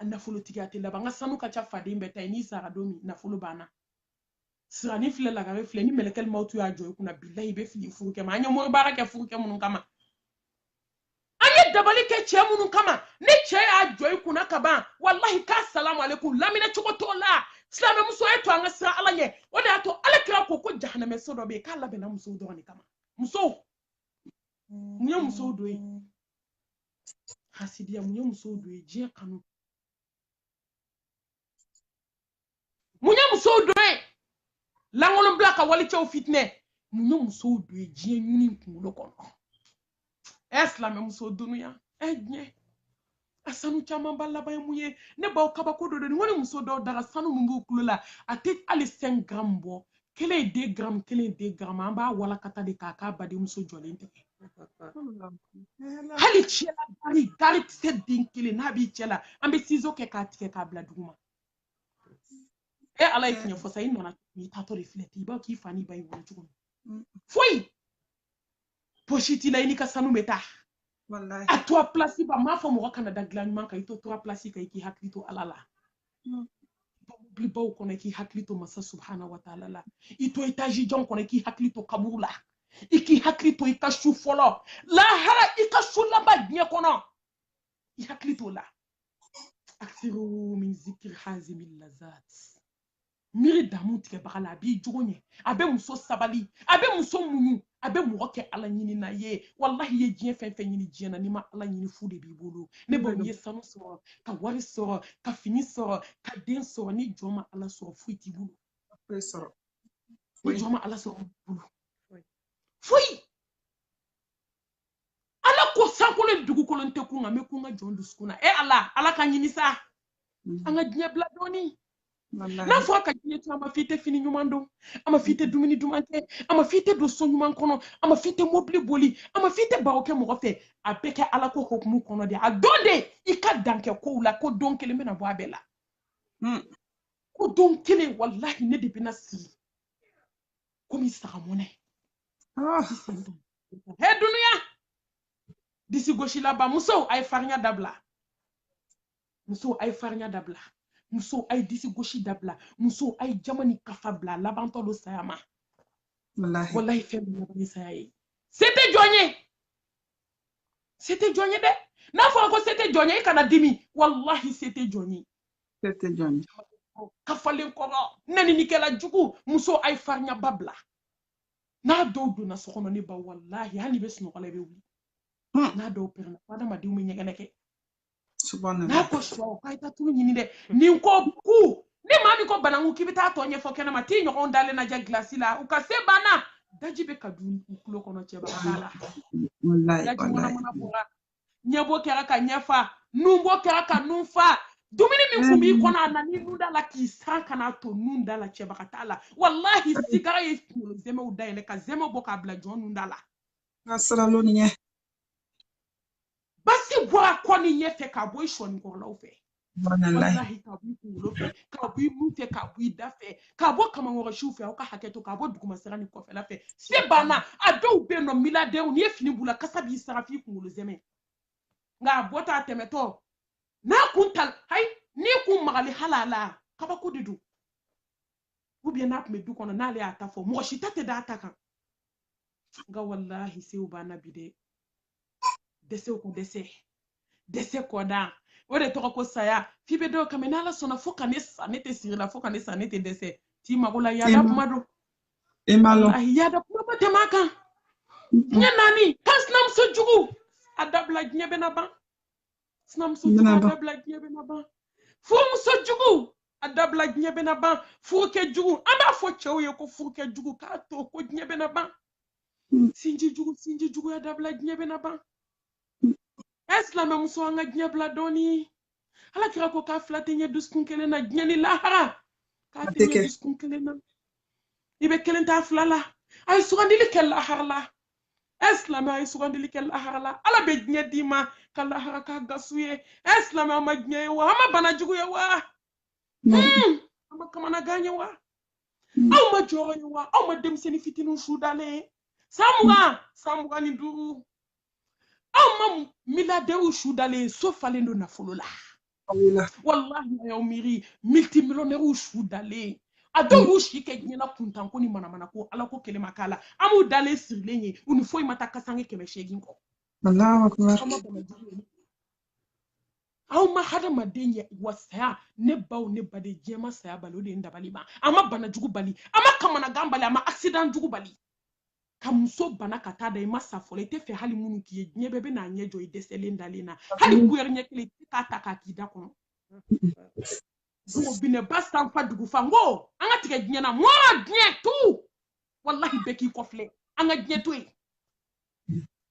a nafolotigiya tɛ laban n ka sanu ka ca faden bɛɛ ta ye n'i sara don min nafolo banna sirani filɛ lagare filɛ ni mɛlɛkɛli mawtu y'a jɔ i kunna bilahi i bɛ fili furukɛ ma an ye mori baara kɛ furukɛ minnu kama an ye dabali kɛ cɛ minnu kama ni cɛ y'a jɔ i kunna ka ban walahi k'a salamu alekum lamina cogo t'o la silamɛmuso y'a to an ka siran ala ɲɛ o de y'a to ala kira ko ko jahanamɛ so dɔ bɛ yen k'a labɛnna musow dɔrɔn de kama musow mun ye musow don yen hasidiya mun ye musow don yen diɲɛ kanu mun ye musow don yen lankolonbila ka walicɛw fitinɛ mun ye musow don yen diɲɛ ɲini kunkolo kɔnɔ ɛ silamɛ muso dunuya ɛ diɲɛ a sanu camanba laban ye mun ye ne baw kabako dɔ don ni ko ni muso dɔw daga sanu min b'u tulo la a tɛ hali sɛn garamu bɔ kelen ye de garamu kelen ye de garamu an b'a walakata de k'a k'a badenmuso jɔlen tɛgɛ hali cɛla gari gari kisɛ den kelen n'a b'i cɛ la an bɛ sizo kɛ k'a tigɛ k'a bila duguma e ala ye tiɲɛ fɔ sa i nana cogo min i taatɔ de filɛ ten i b'a dɔn k'i fa n'i ba y'i wolo cogo min foyi posi t'i la i n'i ka sanu bɛ taa a turuwa pilasi ba n m'a fɔ mɔgɔ kana da dilan ɲuman kan i to turuwa pilasi kan i k'i hakili to ala la mobilibaw kɔnɔ i k'i hakili to masa subhana wa taala la i to etazi jan kɔnɔ i k'i hakili to kaburu la i k'i hakili to i ka su fɔlɔ lahara i ka su laban diɲɛ kɔnɔ i hakili t'o la akthiru min zikir hazimi lazat miiri damu tigɛbaga la a b'i jogo ɲɛ a bɛ muso sabali a bɛ muso muɲu a bɛ mɔgɔ kɛ ala ɲinina ye walahi i ye diɲɛ fɛn fɛn ɲini diɲɛ na n'i ma ala ɲini fu de b'i bolo ne ba i ye sanu sɔrɔ ka wari sɔrɔ ka fini sɔrɔ ka den sɔrɔ ni jɔn ma ala sɔrɔ foyi t'i bolo ni jɔn ma ala sɔrɔ bolo foyi ala ko sankolo dugukolo n tɛ kun nka n bɛ kun n ka jɔn dusukun na e ala ala ka ɲini sa mm. an ka diɲɛ bila dɔɔni n'a fɔra ka diɲɛ to a ma fɔ i tɛ fini ɲuman don a ma fɔ i tɛ dumuni duman kɛ a ma fɔ i tɛ don so ɲuman kɔnɔ a ma fɔ i tɛ mobili boli a ma fɔ i tɛ baro kɛ mɔgɔ fɛ a bɛɛ kɛ ala ko hokumu kɔnɔ de a don de i ka dan kɛ kow la ko don kelen bɛna bɔ a bɛɛ la mm. ko don kelen walahi ne de bɛna sigi komi saga mɔnɛ ah. he dunuya disi gosilaba musow a ye farinya dabila musow a ye farinya dabila musow a ye disi gosi dabila musow a ye jama ni kafa bila labantɔ don saya ma walahi fɛn bɛ laban ni saya ye se tɛ jɔn ye se tɛ jɔn ye dɛ n'a fɔra ko se tɛ jɔn ye i kana dimi walahi se tɛ jɔn ye kafalen kɔrɔ nɛninikɛla jugu muso a ye farinyaba bila n'a dɔw donna so kɔnɔ ne ba walahi hali i bɛ sunɔgɔ la i bɛ wuli hmm. n'a dɔw pɛrɛnna fo adamadenw bɛ ɲɛgɛnɛ kɛ n'a ko sɔ k'a ye taa tulu ɲini dɛ nin ko ku ni maa min ko bananku k'i bɛ taa tɔ ɲɛfɔ kɛnɛma t'i ɲɔgɔn dalen lajɛ gilasi la u ka se banna daji bɛ ka don u tulo kɔnɔ cɛba la daji mana mana bɔra ɲɛbo kɛra ka ɲɛfa nunbo kɛra ka nun fa dumuni min tun b'i mm. kɔnɔ a nan'i nun da la k'i san kana to nun da la cɛbaga t'a la walahi sigara ye kunkolo zɛmɛw dayɛlɛ ka zɛmɛ bɔ k'a bila jɔn nun da la basi bɔra kɔ ni ɲɛfɛ ka bɔ i sɔnikɔrɔlaw fɛ walahi ka b'i kunkolo fɛ ka b'i nun fɛ ka b'i da fɛ ka bɔ kamankɔrɔsiw fɛ aw ka hakɛ to ka bɔ dugumasira ni kɔfɛla fɛ se banna a dɔw bɛ yen nɔ miliyaridɛriw n'i ye fini b'u la kasa b'i sara f'i kunkolo zɛmɛ nka a bɔtɔ a tɛmɛtɔ n'a kun ta hayi n'i kun magali hali a la kabako de don ou bien n'a tun bɛ du kɔnɔ n'ale y'a ta fɔ mɔgɔ si ta tɛ d'a ta kan nka walahi sew banna bi dɛ dɛsɛw ka dɛsɛ dɛsɛ kɔdan o de tɔgɔ ko saya f'i bɛ dɔw kan mɛn n'ala sɔnna fo ka ne sa ne tɛ sigi la fo ka ne sa ne tɛ dɛsɛ t'i mago la yaada kuma don walahi yaada kuma ma tɛmɛ a kan diɲɛ naani kan sinamuso jugu a dabila diɲɛ bɛna ban sinamuso jugu a dabila diɲɛ bɛna ban furumuso jugu a dabila diɲɛ bɛna ban furukɛ jugu an b'a fɔ cɛw ye ko furukɛ jugu k'a to ko diɲɛ bɛna ban hmm. sinji jugu sinji jugu a dabila diɲɛ bɛna ban hmm. ɛ silamɛmuso an ka diɲɛ bila dɔɔni ala kira ko k'a fila tɛ ɲɛ dusukun kelen na diɲɛ ni lahara k'a tɛ ɲɛ dusukun kelen na i bɛ kelen t'a fila la a ye sugandili kɛ lahara la ɛ silamɛ a ye sugandili kɛ lahara la ala bɛ diɲɛ d'i ma ka lahara k'a gasu ye ɛ silamɛ a ma diɲɛ ye wa a ma bana jugu ye wa hmm. a ma kamanagan ye wa hmm. aw ma jɔrɔ ye wa aw ma denmisɛnnin fitininw su dalen ye san mugan san mugan ni duuru aw ma miliyaridɛriw su dalen so falen don nafolo la wallahi a y'aw miiri miltimiliyɔnɛriw su dalen a dɔw y'u si kɛ diɲɛ na kuntan ko ni manamana ko ala ko kelen ma k'a la an b'u dalen sirilen ye u ni foyi ma taa kasange kɛmɛ seegin kɔ allahu akbar aw ma hadamaden ye wa saya ne baw ne baden diɲɛ ma saya bali o de ye n dabali ban a ma bana jugu bali a ma kamanagan bali a ma accident jugu bali ka muso bana ka taa da i ma sa fɔlɔ i t'a fɛ hali minnu k'i ye diɲɛ bɛɛ bɛ n'a ɲɛ jɔ i dɛsɛlen dalen na hali kuyɛri ɲɛ kelen i tɛ k'a ta k'a k'i da kɔnɔ binɛba sanfa dugu fa n ko an ka tigɛ diɲɛ na mɔra diɲɛ tu walahi bɛɛ k'i kɔfilɛ an ka diɲɛ to yen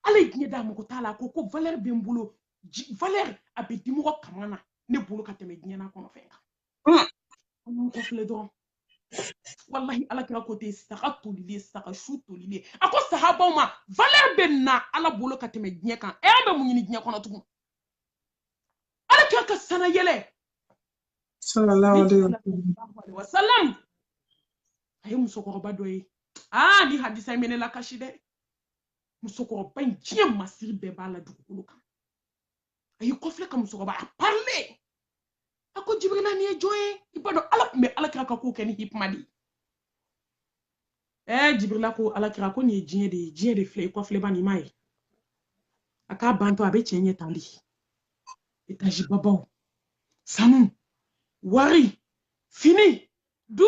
ala ye diɲɛ da mago t'a la a ko ko valɛri bɛ n bolo valɛri a bɛ dimɔgɔ kaman na ne bolo ka tɛmɛ diɲɛ n'a kɔnɔ fɛn kan an k'an kɔfilɛ dɔrɔn walahi ala kira ko ten saga tolilen saga su tolilen a ko sahabaw ma valeur bɛ nin na ala bolo ka tɛmɛ diɲɛ kan ɛ an bɛ mun ɲini diɲɛ kɔnɔ tugun ala kira ka sanna yɛlɛ salalahu alayihi wasalam a ye musokɔrɔba dɔ ye aa nin hadisa in bɛ ne lakasi dɛ musokɔrɔba in diɲɛ masiri bɛɛ b'a la dugukolo kan a y'i kɔfilɛ ka musokɔrɔba a parilen a ko jibirila nin ye jɔn ye i b'a dɔn ala tun bɛ ala kira ka ko kɛ ni hikima de ye ɛɛ jibirila ko ala kira ko nin ye diɲɛ de ye diɲɛ de filɛ i kɔfilɛ bani i m'a ye a k'a bantɔ a bɛ cɛ ɲɛ tan de etazi babaw sanu wari fini du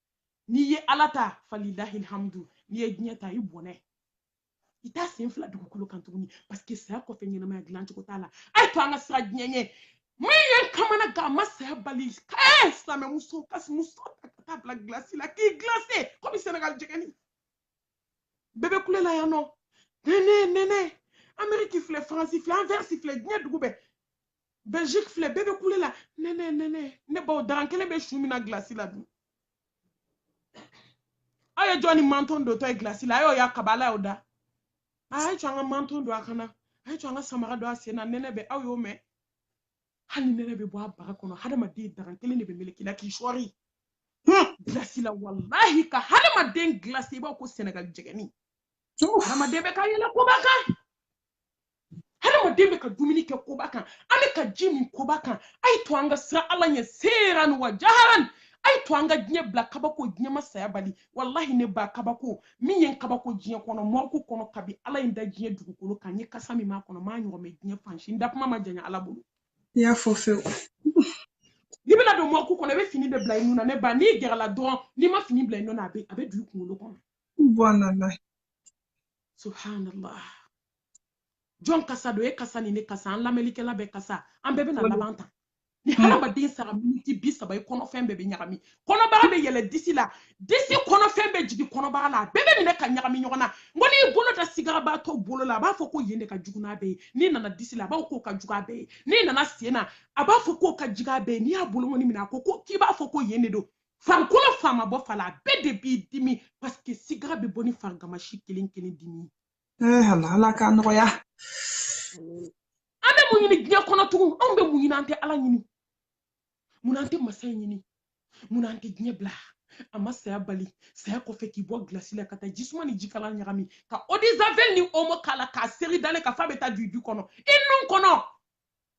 n'i ye ala ta falilahilhamdu n'i ye diɲɛ ta i bɔnɛ i t'a sen fila dugukolo kan tuguni paseke saya kɔfɛ ɲɛnamaya dilan cogo t'a la a y'a to an ka siran diɲɛ ɲɛ min ye n kamana gan a ma saya bali ee silamɛmuso ka muso ta ka taa bila gilasi la k'i gilase komi senegal jɛgɛni bɛɛ bɛ kule la yan nɔ nɛnɛ nɛnɛ ameriki filɛ faransi filɛ anvɛrisi filɛ diɲɛ dugu bɛɛ belgique filɛ bɛɛ bɛ kule la nɛnɛ nɛnɛ ne baw daran kelen bɛ su min na gilasi la dun aw ye jɔn ni manton dontɔ ye gilasi la a y'o ye kabi ala y'aw da a ye to an ka manton don a kan na a ye to an ka samara don a sen na nɛnɛ bɛ aw y'o mɛn hali nɛnɛ bɛ bɔ a bara kɔnɔ hadamaden daran kelen de bɛ meleke i la k'i sɔɔri gilasi la walahi ka hadamaden gilasi i b'a ko sɛnɛgali jɛgɛni hadamaden bɛ ka yɛlɛ koba kan hadamaden bɛ ka dumuni kɛ koba kan an bɛ ka ji min koba kan a ye to an ka siran ala ɲɛ seeran wa jaharan a ye to an ka diɲɛ bila kabako diɲɛ ma saya bali walahi ne ba kabako min ye n kabako diɲɛ kɔnɔ mɔriku kɔnɔ kabi ala ye n da diɲɛ dugukolo kan n ye kasa min mɛn a kɔnɔ n m'a ɲɔgɔn mɛn diɲɛ fan si n da kuma ma janya ala bolo i y'a fɔ fewu n'i bɛna don mɔriku kɔnɔ i bɛ fini de bila i nun na ne ba n'i gɛrɛla dɔrɔn n'i ma fini bila i nun na a bɛ a bɛ don i kunkolo kɔnɔ subhanallah subhanallah jɔn kasa don e kasa ni ne kasa an lamɛnlikɛla bɛɛ kasa an bɛɛ bɛna laban tan ni hmm. hadamaden sara miniti bi saba i kɔnɔfɛn bɛɛ bɛ ɲagami kɔnɔbara bɛ yɛlɛ disi la disi kɔnɔfɛn bɛ jigin kɔnɔbara la a bɛɛ bɛ minɛ ka ɲagami ɲɔgɔn na n ko n'i bolo da sigarabaatɔ bolo la a b'a fɔ ko yen de ka jugu n'a bɛɛ ye n'i nana disi la a b'a fɔ k'o ka jugu a bɛɛ ye n'i nana sen na a b'a fɔ k'o ka jugu a bɛɛ ye n'i y'a bolonkɔni minɛ a ko k'i b'a fɔ ko yen de don farikolo fan ma bɔ fan la a bɛɛ de b'i dimi paseke sigara bɛ bɔ ni farigamasi kelen kelen dimi ye Eh, ala ala k'a nɔgɔya an bɛ mun ɲini diɲɛ kɔnɔ tugun anw bɛ mun ɲini an tɛ ala ɲini mun na an tɛ masa ɲini mun na an tɛ diɲɛ bila a ma saya bali saya kɔfɛ k'i bɔ gilasi la ka taa jisuma ni jikalan ɲagami ka odizavel ni omo k'a la k'a seri i dalen kan fan bɛ taa don i da kɔnɔ i nun kɔnɔ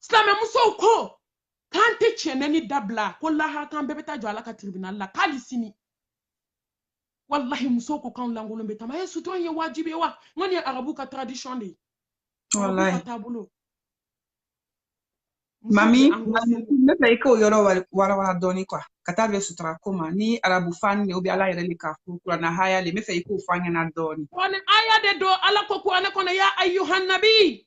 silamɛ musow ko k'an tɛ tiɲɛni dabila ko lahara k'an bɛɛ bɛ taa jɔ ala ka tiribinali la k'ale sini walahi musow ko k'anw lankolon bɛ tama ye sutura ye wajibi ye wa n ko nin ye arabu ka tradition de ye arabu ka taabolo mami ne fɛ i k'o yɔrɔ warawara dɔɔni kuwa ka taa bɛn sutura ko ma ni arabu fan de ubiyɛn ala yɛrɛ de k'a fɔ kuranna haya la n b'a fɛ i k'o fɔ an ɲɛna dɔɔni kuranna haya de don ala ko kuranɛ kɔnɔ ya ayuhanabi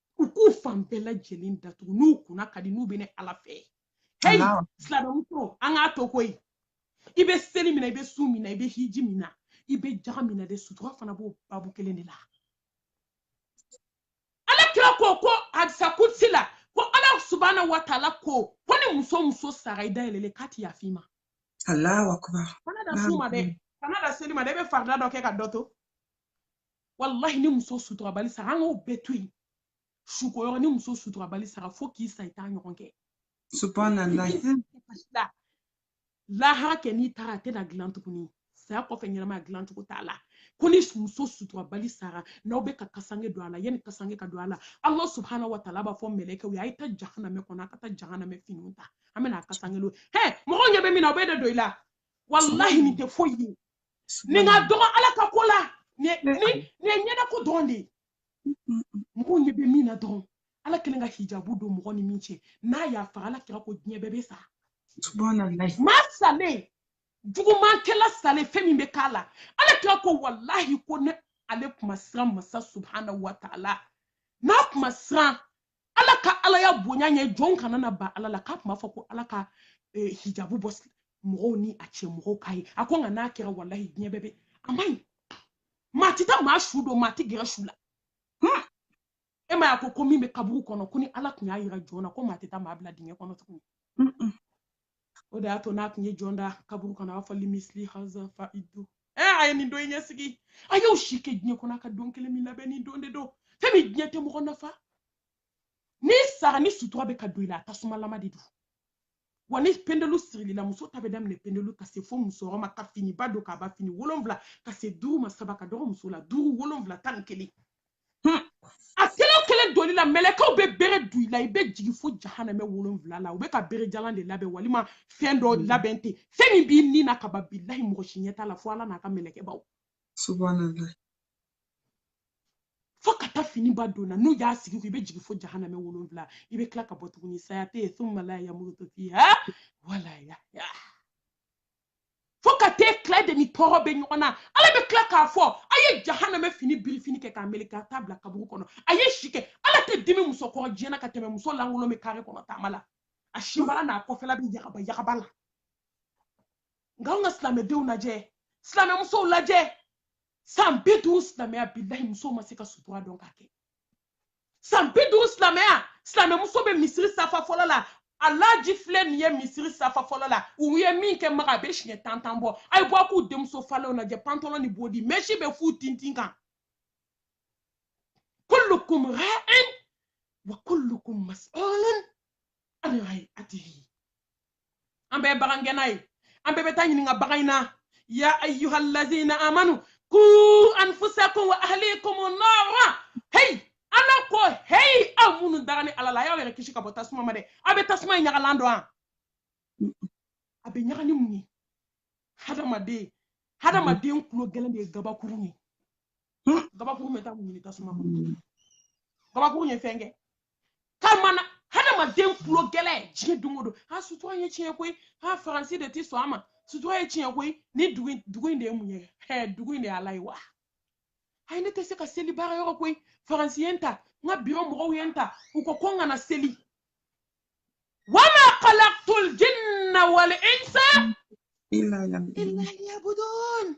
u k'u fan bɛɛ lajɛlen datugu n'u kunna ka di n'u bɛ ne ala fɛ heyi silamɛmuso an k'a to koyi i bɛ seli min na i bɛ sun min na i bɛ hiji min na i bɛ jaga min na dɛ sutura fana b'o babu kelen de la ala kira ko ko hadisa kutsi la ko ala subahana wa taala ko ko ni muso muso sara i dayɛlɛlen k'a ti yafa i ma allahu akbar kana da sun ma dɛ kana da seli ma dɛ i bɛ farida dɔ kɛ ka dɔ to walahi ni muso suturabali sara an k'o bɛɛ to yen suko yɔrɔ ni muso suturabali sara fo k'i sa i t'a ɲɔgɔn kɛ lahara kɛ n'i taara a tɛna dilan tuguni saya kɔfɛ ɲɛnamaya dilan cogo t'a la ko ni muso suturabali sara n'aw bɛ ka kasange don a la yanni kasange ka don a la ala subahana wa taala b'a fɔ mɛlɛkɛw ye a ye taa jahanamɛ kɔnɔ a ka taa jahanamɛ finiw ta an bɛna a kasange don hɛ mɔgɔw ɲɛ bɛ min na o bɛ de don i la walahi nin tɛ foyi ye nin ka dɔgɔ ala ka ko la nin ye ɲɛdako dɔrɔn de ye mɔgɔw ɲɛ bɛ min na dɔrɔn ala kelen ka hijabu don mɔgɔ ni min cɛ n'a y'a faga ala kira ko diɲɛ bɛɛ bɛ sa maa salen jugumankɛla salen fɛn min bɛ k'a la ala kira ko walahi ko ni ale kun ma siran masa subhana wa taala n'a kun ma siran ala ka alaya bonya ɲɛ jɔn kana na ban ala la k'a tun b'a fɔ ko ala ka eh, hijabu bɔ mɔgɔw ni a cɛ mɔgɔw k'a ye a ko nka n'a kɛra walahi diɲɛ bɛɛ bɛ a man ɲi maa tɛ taa maa su don maa tɛ gɛrɛ su la hmm. e m'a y'a ko ko min bɛ kaburu kɔnɔ ko ni ala tun y'a yira jɔn na ko maa tɛ taa maa bila dingɛ kɔnɔ tuguni o de y'a to n'a tun ye jɔn da kaburu kɔnɔ a b'a fɔ limisili haza fa idu ɛ a ye nin don in ɲɛsigi a y'o si kɛ diɲɛ kɔnɔ a ka don kelen min labɛn nin don de don fɛn min diɲɛ tɛ mɔgɔ nafa n'i sara ni sutura bɛ ka don i la a tasumalama de don wa ni pendelu sirili la muso ta bɛ daminɛ pendelu ka se fo musɔrɔ ma ka finiba don k'a ban fini wolonwula ka se duuru ma saba ka dɔgɔ muso la duuru wolonwula tan ni kelen hmm. a kelen kelen donli la mɛlɛkɛw bɛ bere du i la i bɛ jigin fo jahanamɛ wolonwula la u bɛ ka bere jalan de labɛn walima fɛn dɔ hmm. labɛn ten fɛn min b'i ni na kaba bilahi mɔgɔ si ɲɛ t'a la fo ala n'a ka mɛlɛkɛbaw subahanalahi fo ka taa fini ban donna n'u y'a sigi i kun i bɛ jigin fo jahanamɛ wolonwula i bɛ tila ka bɔ tuguni saya tɛ yen thumma la yamutu fiha wala yahya fo ka tɛ tila de ni tɔɔrɔ bɛ ɲɔgɔn na ala bɛ tila k'a fɔ a ye jahanamɛ fini birifini kɛ k'a meleke ka t'a bila kaburu kɔnɔ a ye si kɛ ala tɛ dimi muso kɔrɔ diɲɛ na ka tɛmɛ muso lankolon bɛ kare kɔnɔ taama la a sinbara n'a kɔfɛla bɛ yagaba yagaba la nka anw ka silamɛdenw lajɛ silamɛmusow lajɛ san bi duuru silamɛya bilahi musow ma se ka sutura dɔn k'a kɛ san bi duuru silamɛya silamɛmuso bɛ misiri safa fɔlɔ la alaji filɛ nin ye misiri safa fɔlɔ la u ye min kɛ maka a bɛ siɲɛ tan tan bɔ a ye bɔ a k'u denmuso falenw lajɛ pantalɔn ni bodi mɛsi bɛ f'u tintin kan kullukum ra'in wa kullukum mas'ulun an ra'atihi an bɛɛ bagan gɛnna ye an bɛɛ bɛ taa ɲininka bagan in na ya ayyuhallazina amanu ku anfusakum wa ahlikum nara hey ala ko hey aw minnu dara ni ala la y'aw yɛrɛ kisi ka bɔ tasuma ma dɛ aw bɛ tasuma in ɲagalan dɔn wa a bɛ ɲaga ni mun ye hadamaden hadamaden kulo gɛlɛn de ye gabakuru ye gabakuru bɛ taa mun ɲini tasuma kɔnɔ gabakuru ye fɛn kɛ kamana hadamaden kulo gɛlɛn diɲɛ don o don a sutura ye tiɲɛ koyi a faransi de ti sɔn a ma sutura ye tiɲɛ koyi ni dugu in de ye mun ye ɛɛ dugu in de y'ala ye wa ayi ne tɛ se ka seli baara yɔrɔ koyi faransi ye n ta n ka biro mɔgɔw ye n ta u ko ko n kana seli wama khalaqtul jinna wal insa illa liyabudun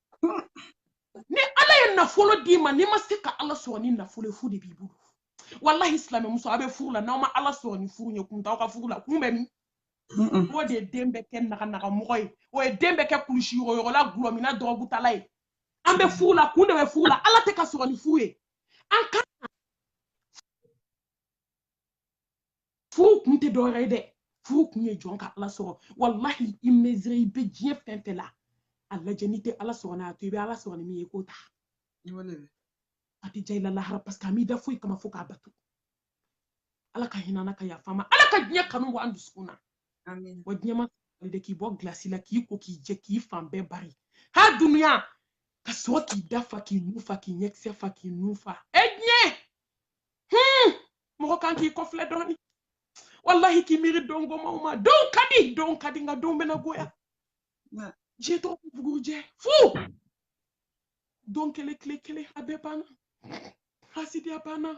ni ala ye nafolo d'i ma n'i ma se ka ala sɔrɔ ni nafolo ye fu de b'i bolo walahi silamɛmuso a bɛ furu la n'aw ma ala sɔrɔ ni furu ye kun t'aw ka furu la kun bɛ min o de ye den bɛ kɛ naganagamɔgɔ ye o ye den bɛ kɛ kulusi yɔgɔyɔgɔla gulɔminna dɔrɔgutala ye an bɛ furu la kun de bɛ furu la ala tɛ ka sɔrɔ ni furu ye an ka furu kun tɛ dɔwɛrɛ ye dɛ furu kun ye jɔn ka ala sɔrɔ walahi i mezire i bɛ diɲɛ fɛn fɛn la a lajɛ n'i tɛ ala sɔrɔ n'a to i bɛ ala sɔrɔ ni min ye k'o ta a tɛ diya i la lahara parce que a m'i da foyi kama fo k'a bato ala ka hinɛ an na ka yafa an ma ala ka diɲɛ kanu bɔ an dusukun na wa diɲɛ ma de k'i bɔ gilasi la k'i ko k'i jɛ k'i fan bɛɛ bari ha dunuya ka sɔrɔ k'i da fa k'i nu fa k'i ɲɛkisɛ fa k'i nu fa e diɲɛ mɔgɔ kan k'i kɔfilɛ dɔɔni wallahi k'i miiri don gomanw ma don ka di don ka di nka don bɛna goya diɲɛ tɔgɔ ko bugurujɛ fu don kelen tile kelen a bɛɛ banna hasidiya banna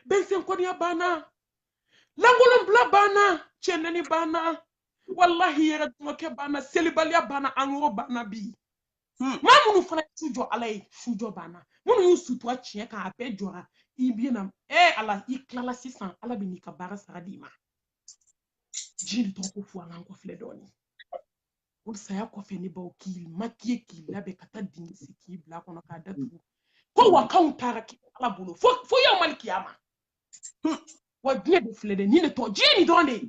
bɛnsɛnkɔniya banna lankolonbila banna cɛnɛni banna wallahi yɛrɛ dɔgɔkɛ banna selibaliya banna angoro banna bi hmm. maa minnu fana su jɔ ala ye su jɔ banna minnu y'u sutura tiɲɛ kan a bɛɛ jɔra i bɛ na ɛ ala i tilala sisan ala bɛ n'i ka baara sara d'i ma diɲɛ tɔgɔ ko fu an k'an kɔfilɛ dɔɔnin o saya kɔfɛ n'i ban u k'i makiye k'i labɛn ka taa dingɛ sen k'i bila kɔnɔ k'a datugu ko wa kan u taara k'i ala bolo fo yawmali kiyama wa diɲɛ de filɛ dɛ nin de tɔgɔ diɲɛ nin dɔrɔn de ye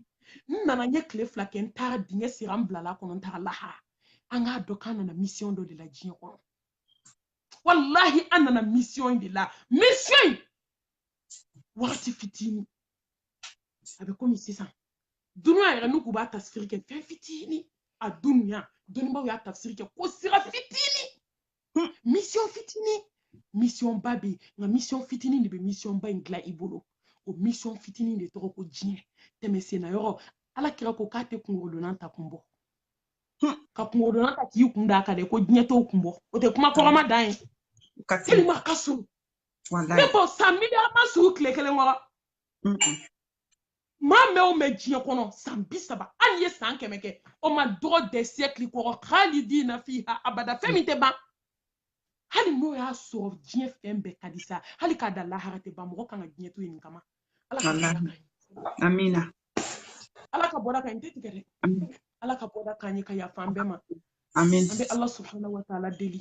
n nana n ye tile fila kɛ n taara dingɛ sera n bilala kɔnɔ n taara lahara an k'a dɔn k'an nana misiyɔn dɔ de la diɲɛ kɔnɔ walahi an nana misiyɔn de la misiyɔn wagati fitini a bɛ komi sisan dunuya yɛrɛ n'u k'u b'a tafsiri kɛ fɛn fitini a dunuya dɔnnibaw y'a tafsiri kɛ ko sira fitini Hmm, mission fitinin mission ba bɛ nka mission fitinin de bɛ mission ba in dilan i bolo o mission fitinin de tɔgɔ ko diɲɛ tɛmɛsenna yɔrɔ ala kira ko k'a tɛ kunkɔrɔdonnan ta kun bɔ hmm, ka kunkɔrɔdonnan ta k'i kun da a kan dɛ ko diɲɛ t'o kun bɔ o tɛ kuma kɔrɔma dan ye tellement a ka surun ne ko san miliyɔn ma surun tile kelen kɔrɔ maa mɛn o mɛn diɲɛ kɔnɔ san bi saba hali i ye san kɛmɛ kɛ o ma dɔgɔ dɛ siɛkili kɔrɔ khalidina fiha abada fɛn min tɛ ban hali n'o y'a sɔrɔ diɲɛ fɛn bɛɛ ka di sa hali k'a da lahara tɛ ban mɔgɔ kan ka diɲɛ to yen nin kama ala ka bɔda kan amina ala ka bɔda kan n tɛ tigɛ dɛ ala ka bɔda kan ye ka yafa an bɛɛ ma an bɛ ala subhanahu wa taala deli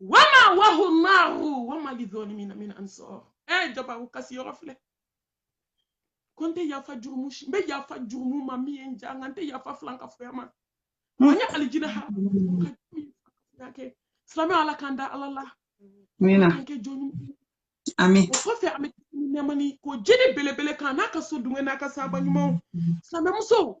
wama wahu nnaru wama lidholimina min ansar ɛ eh, jabaru kasi yɔrɔ filɛ ko n tɛ yafa jurumu si n bɛ yafa jurumu ma min ye n diya nka n tɛ yafa filankafoya ma hmm. an ye alijina ha ka kɛ silamɛ ala k'an da ala la an kɛ jɔn amin. O kɔfɛ an bɛ nɛɛma ni ko jeli belebele kan n'a ka so dunkɛ n'a ka saaba ɲumanw silamɛmusow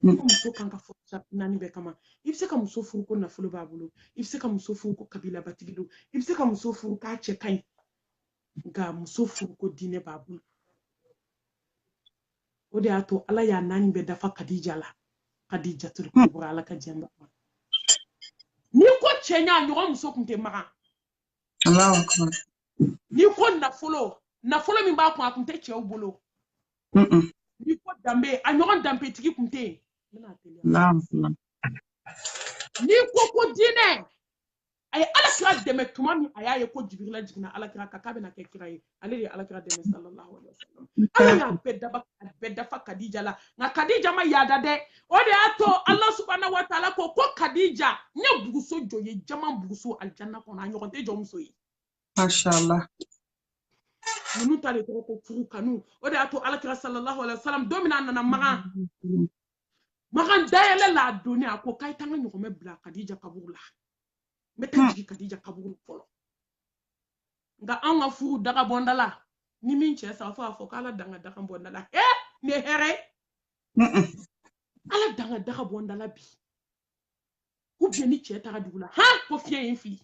Ko muso kan ka furu sarati naani bɛɛ kama i bɛ se ka muso furu ko nafolo b'a bolo i bɛ se ka muso furu ko kabilabatigi don i bɛ se ka muso furu k'a cɛ ka ɲi nka muso furu ko diinɛ b'a bolo o de y'a to ala y'a naani bɛɛ dafa kadija la kadijatul kubra ala ka jɛn ba n'i ko cɛɲa a ɲɔgɔn muso kun tɛ magan n'i ko nafolo nafolo min b'a kun a kun tɛ cɛw bolo n'i ko danbe a ɲɔgɔn danbetigi kun tɛ yen n'i ko ko diinɛ a ye ala kira dɛmɛ tuma min a y'a ye ko jibirila jiginna ala kira kan k'a bɛna kɛ kira ye ale de ye ala kira dɛmɛ sallallahu alaihi wasallam ala y'a bɛɛ daba a bɛɛ dafa kadija la nka kadija ma yaada dɛ o de y'a to ala subhanahu wa taala ko ko kadija n ye buguso jɔ i ye jaman buguso alijanna kɔnɔ a ɲɔgɔn tɛ jɔ muso ye Masha Allah. Ninnu ta de tɔgɔ ko furu kanu. O de y'a to Alakira sallallahu alaihi wasallam don min na a nana Magan. Magan dayɛlɛ la a donni a ko k'a ye taa n ka ɲɔgɔmɛ bila Kadija kaburu la. N bɛ taa jigin Kadija kaburu la fɔlɔ. Nka anw ka furu daga bɔ n da la ni min cɛ sa fo a fɔ k'ala dan ka daga bɔnda la. Ee nin ye hɛrɛ ye. Ala dan ka daga bɔ n da la bi. ou bien ni cɛ taga dugu la han ko fiɲɛ ye n fili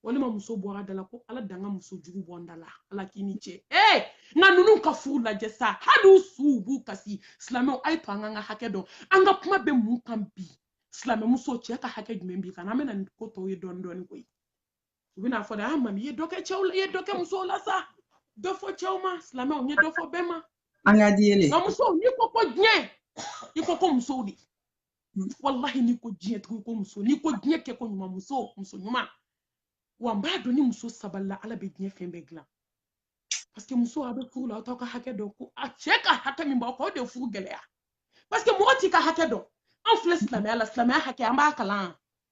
walima muso bɔra da la ko ala dan ka muso jugu bɔ n da la ala k'i ni cɛ ee nka ninnu ka furu lajɛ sa hali u suw b'u kasi silamɛw a ye to an k'an ka hakɛ dɔn an ka kuma bɛ mun kan bi silamɛmuso cɛ ka hakɛ jumɛn b'i kan an bɛna nin ko tɔw ye dɔɔni dɔɔni koyi u bɛna fɔ dɛ almami i ye dɔ kɛ cɛw la i ye dɔ kɛ musow la sa dɔ fɔ cɛw ma silamɛw n ye dɔ fɔ bɛɛ ma an ka di yɛlɛ nka musow n'i ko ko diɲɛ i ko ko musow de walahi n'i ko diɲɛ tugu ko muso n'i ko diɲɛ kɛ ko ɲuman muso muso ɲuman wa n b'a dɔn ni muso sabalila ala bɛ diɲɛ fɛn bɛɛ dilan paseke muso a bɛ furu la aw t'aw ka hakɛ dɔn ko aw cɛ ka hakɛ min b'aw kan o de ye furu gɛlɛya paseke mɔgɔ t'i ka hakɛ dɔn an filɛ silamɛya la silamɛya hakɛ an b'a kalan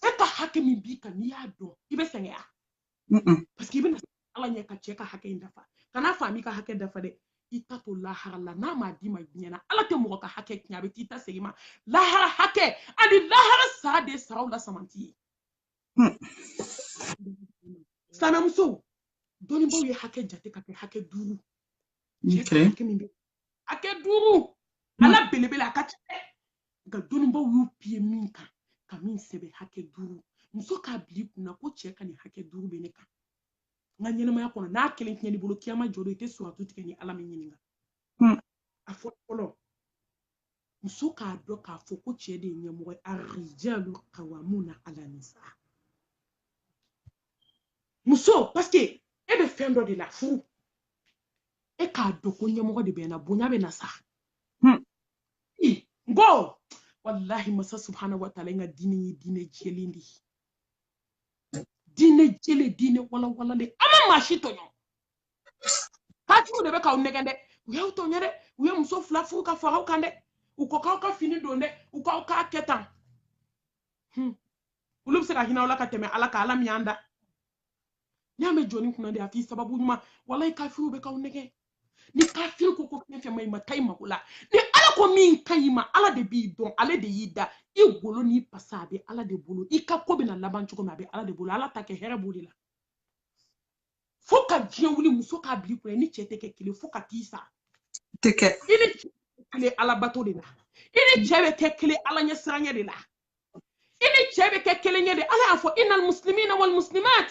cɛ ka hakɛ min b'i kan n'i y'a dɔn i bɛ sɛgɛnya parce que i bɛna ala ɲɛ ka cɛ ka hakɛ in dafa kan'a f'a m'i ka hakɛ dafa dɛ i ta to lahara la n'a m'a d'i ma diɲɛ na ala tɛ mɔgɔ ka hakɛ tiɲɛ a bɛ t'i ta segin i ma lahara hakɛ ani lahara sara de saraw la samanti ye silamɛ musow dɔnnibaaw ye hakɛ jate ka kɛ hakɛ duuru cɛ ka hakɛ min bɛ hakɛ duuru a la belebele a ka ca dɛ nka dɔnnibaaw y'u piye min kan ka min sɛbɛn hakɛ duuru muso k'a bil'i kun na ko cɛ ka nin hakɛ duuru bɛ ne kan n ka ɲɛnamaya kɔnɔ n'a kelen tiɲɛn'i bolo kiyama jɔ don i tɛ suratu tigɛ ni ala m'i ɲininka hmm. a fɔlɔ fɔlɔ muso k'a dɔn k'a fɔ ko cɛ de ye ɲɛmɔgɔ ye arijalu kawamuna ala nisa muso paseke e bɛ fɛn dɔ de la furu e k'a dɔn ko ɲɛmɔgɔ de bɛ na bonya bɛ na sa hmm. n ko walahi masa subhana wa taala ka diinɛ ye diinɛ jɛlen de ye diinɛ jɛlen diinɛ walawalalen a ma maa si tɔɲɔ kafiriw de bɛ k'aw nɛgɛn dɛ u y'aw tɔɲɔ dɛ u ye muso fila furu ka fara aw kan dɛ u ko k'aw ka fini don dɛ u k'aw k'a kɛ tan olu bɛ se ka hinɛ aw la ka tɛmɛ ala kan ala min y'an da n'i y'a mɛn jɔnnin kunnandi a f'i sababu ɲuman walayi kafiriw bɛ k'aw nɛgɛn ni kafiri ko ko fɛn fɛn man ɲi i ma taa i mako la ni ala ko min ka ɲi i ma ala de b'i dɔn ale de y'i da i golo n'i pasa a bɛ ala de bolo i ka ko bɛna laban cogo min a bɛ ala de bolo ala ta kɛ hɛrɛ b'o de la fo ka diɲɛ wuli muso k'a bil'i kun na i ni cɛ tɛ kɛ kelen fo ka t'i sa tɛ kɛ i ni cɛ bɛ kelen ala bato de la i ni cɛ bɛ kɛ kelen ala ɲɛsiranɲɛ de la i ni cɛ bɛ kɛ kelen yen de ala y'a fɔ inal muslimina wal muslimat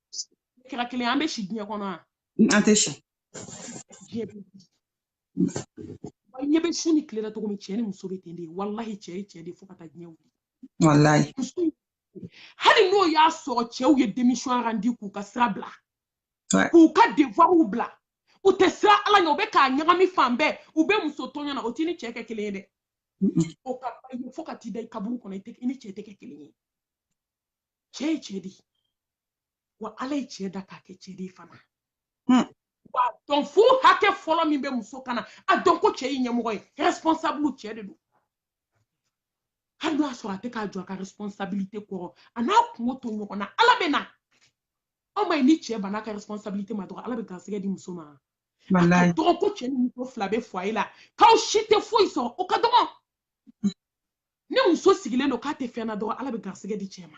kira kelen an bɛ si diɲɛ kɔnɔ wa an tɛ si diɲɛ bɛ wa ɲɛ bɛ su ni tile la cogo min cɛ ni muso bɛ ten de walahi cɛ ye cɛ de fo ka taa diɲɛ wuli walayi hali n'o y'a sɔrɔ cɛw ye démission randi k'u ka sira bila Ouais. k'u ka devuwaw bila u tɛ siran ala ɲɛ u bɛ k'a ɲagami fan bɛɛ u bɛ muso tɔɲɔ na o t'i ni cɛ kɛ kelen ye dɛ Mm-mm. o ka ba ye fo ka t'i da i kaburu kɔnɔ i tɛ- i ni cɛ tɛ kɛ kelen ye cɛ ye cɛ de ye wa ala ye cɛ da k'a kɛ cɛ de ye fana hmm. wa a dɔn furu hakɛ fɔlɔ min bɛ muso kan a dɔn ko cɛ ye ɲɛmɔgɔ ye responsable cɛ de don hali n'o y'a sɔrɔ a tɛ k'a jɔ a ka responsabilité kɔrɔ a n'a kunko to ɲɔgɔn na ala bɛ na aw m'a ye ni cɛ banna a ka responsabilité ma dɔrɔn ala bɛ garisɛgɛ di muso ma a ka dɔgɔ ko cɛ ni muso fila bɛ foyer la k'aw si tɛ foyi sɔrɔ o ka dɔgɔ ni muso sigilen don k'a tɛ fɛn na dɔrɔn ala bɛ garisɛgɛ di cɛ ma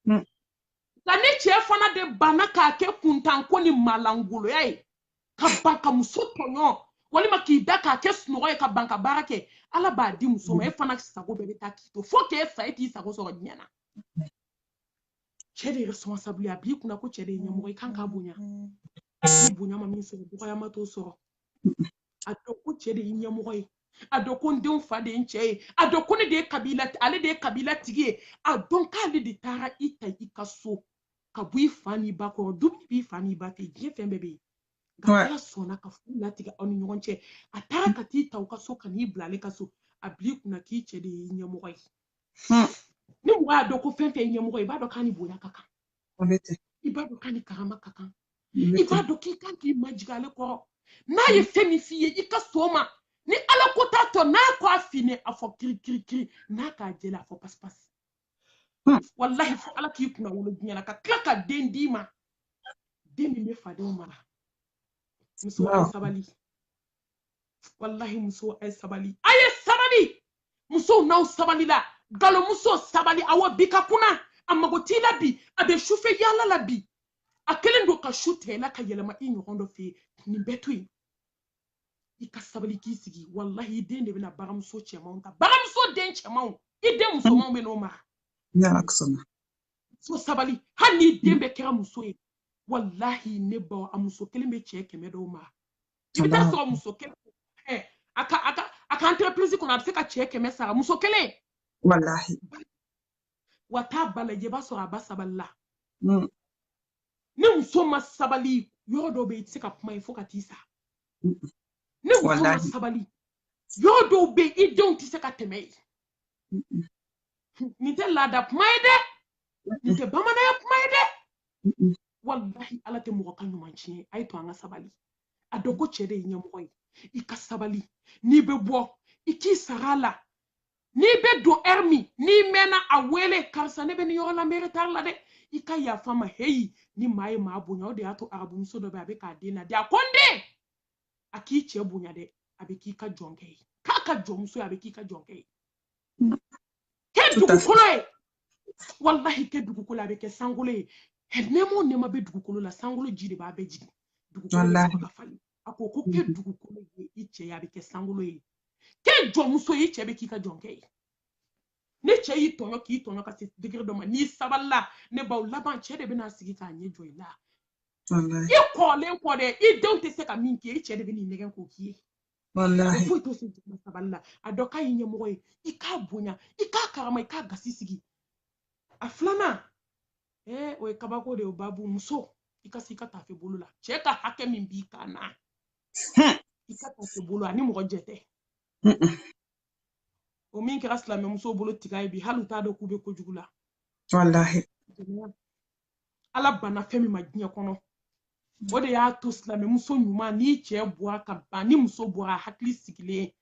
hmm. nka ni cɛ fana de banna k'a kɛ kuntanko ni malangoloya ye ka ban ka muso tɔɲɔ walima k'i da k'a kɛ sunɔgɔ ye ka ban ka baara kɛ ala b'a di muso ma e fana sago bɛɛ bɛ taa k'i to fo k'e sa e t'i sago sɔrɔ diɲɛ na cɛ de ye responsable ye a bil'i kunna ko cɛ de ye ɲɛmɔgɔ i kan k'a bonya ni bonya ma min sɔrɔ dɔgɔyama t'o sɔrɔ a dɔn ko cɛ de ye ɲɛmɔgɔ ye a dɔn ko n denw fa de ye n cɛ ye a dɔn ko ne de ye kabila ale de ye kabila tigi ye a dɔn k'ale de taara i ta i ka so ka bɔ i fa n'i ba kɔrɔ dumuni b'i fa n'i ba fɛ diɲɛ fɛn bɛɛ bɛ yen nka ala sɔnna ka furu latigɛ aw ni ɲɔgɔn cɛ a taara ka t'i ta u ka so ka n'i bila ale ka so a bil'i kunna k'i cɛ de ye ɲɛmɔgɔ ye hmm. ni mɔgɔ y'a dɔn ko fɛn fɛn ye ɲɛmɔgɔ ye i b'a dɔn k'a ni bonya ka kan i b'a dɔn k'a ni karama ka kan i b'a dɔn k'i kan k'i majigin ale kɔrɔ n'a ye hmm. fɛn min f'i ye i ka sɔn o ma ni ala ko t'a tɔ n'a ko a finna a fɔ kirikirikiri n'a k'a jɛla a fɔ pasipasi hmm. walahi fo ala k'i kunnawolo diɲɛ na ka tila ka den d'i ma den min bɛ fadenw mara muso sabali walahi muso a ye sabali a ye sabali musow n'aw sabalila galomuso sabali awɔ bi ka kunan a mago t'i la bi a bɛ sufɛ yaala la bi a kelen don ka su tigɛ i la ka yɛlɛma i ɲɔgɔn dɔ fɛ nin bɛɛ to yen i ka sabali k'i sigi walahi i den de bɛna baramuso cɛmanw ta baramuso den cɛmanw i den musomanw bɛ n'u mara so sabali hali n'i den bɛɛ kɛra muso ye walahi ne baw a muso kelen bɛ cɛ kɛmɛ dɔw mara i bɛ taa sɔrɔ muso kelen eh, a ka a ka a ka entreprise kɔnɔ a bɛ se ka cɛ kɛmɛ sara muso kelen. walahi. wa t'a ba lajɛ i b'a sɔrɔ a ba sabalila. Mm. ni muso ma sabali yɔrɔ dɔ bɛ yen i tɛ se ka kuma yen fo ka t'i sa. Mm. ni muso ma sabali yɔrɔ dɔw bɛ yen i denw tɛ se ka tɛmɛ yen. nin tɛ laada kuma ye dɛ nin tɛ bamananya kuma ye dɛ walahi ala tɛ mɔgɔ ka ɲuman tiɲɛ a ye to an ka sabali a dɔn ko cɛ de ye ɲɛmɔgɔ ye i ka sabali n'i bɛ bɔ i k'i sara a la n'i bɛ don heure min n'i mɛnna a wele karisa ne bɛ nin yɔrɔ la n bɛ retard la dɛ i ka yafa n ma heyi ni maa ye maa bonya o de y'a to arabumuso dɔ bɛ a bɛ k'a den laadi a ko n den a k'i cɛ bonya dɛ a bɛ k'i ka jɔnkɛ ye k'a ka jɔnmuso ye a bɛ k'i ka jɔnkɛ ye kɛ dugukolo ye walahi kɛ dugukolo a bɛ kɛ sankolo ye nɛɛma o nɛɛma bɛ dugukolo la sankolo ji de b'a bɛɛ jigin dugukolo bɛ sɔrɔ ka falen a ko ko kɛ dugukolo ye i cɛ ye a bɛ kɛ sankolo ye kɛ jɔnmuso ye i cɛ bɛ k'i ka jɔnkɛ ye ni cɛ y'i tɔɲɔ k'i tɔɲɔ ka se digiri dɔ ma n'i sabalila ne baw laban cɛ de bɛna sigi k'a ɲɛ jɔ i la i kɔrɔlen kɔ dɛ i denw tɛ se ka min kɛ i cɛ de bɛn'i nɛgɛn k'o k'i ye foyi t'o sen tɛmɛ sabali la a dɔn k'a y'i ɲɛmɔgɔ ye i k'a bonya i k'a karama i k'a gasi sigi a filanan ee o ye kabako de ye o babu muso i ka se i ka tafe bolo la cɛ ka hakɛ min b'i kan na i ka tafe bolo ani mɔgɔ jɛ tɛ o min kɛra silamɛmusow bolo tiga ye bi hali u t'a dɔn k'u bɛ kojugu la walahi ala banna fɛn min ma diɲɛ kɔnɔ o de y'a to silamɛmuso ɲuman n'i cɛ bɔra ka ban ni muso bɔra hakili sigilen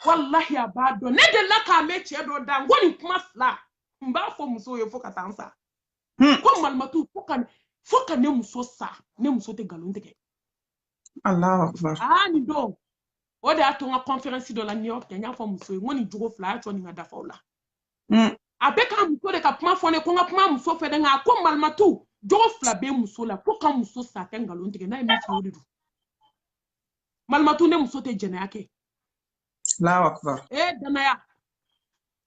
walahi a b'a dɔn ne delila k'a mɛn cɛ dɔ da n ko nin kuma fila n b'a fɔ musow ye fo ka taa n sa hmm. ko malimatu fo ka ne muso sa ne muso tɛ nkalon tigɛ Alahu akubar. Aa nin don o de y'a to n ka kɔnferɛnsi dɔ la New York n y'a fɔ musow ye n ko nin jogo fila a y'a to nin ka dafa o la. Mm. A bɛ k'a muso de ka kuma fɔ ne ko n ka kuma muso fɛ dɛ nka a ko malimatu jogo fila bɛ muso la fo k'a muso sa a tɛ nkalon tigɛ n'a ye min fɔ o de don. Malimatu ne muso tɛ jɛnɛya kɛ. Alahu akubar. Ee jɛnɛya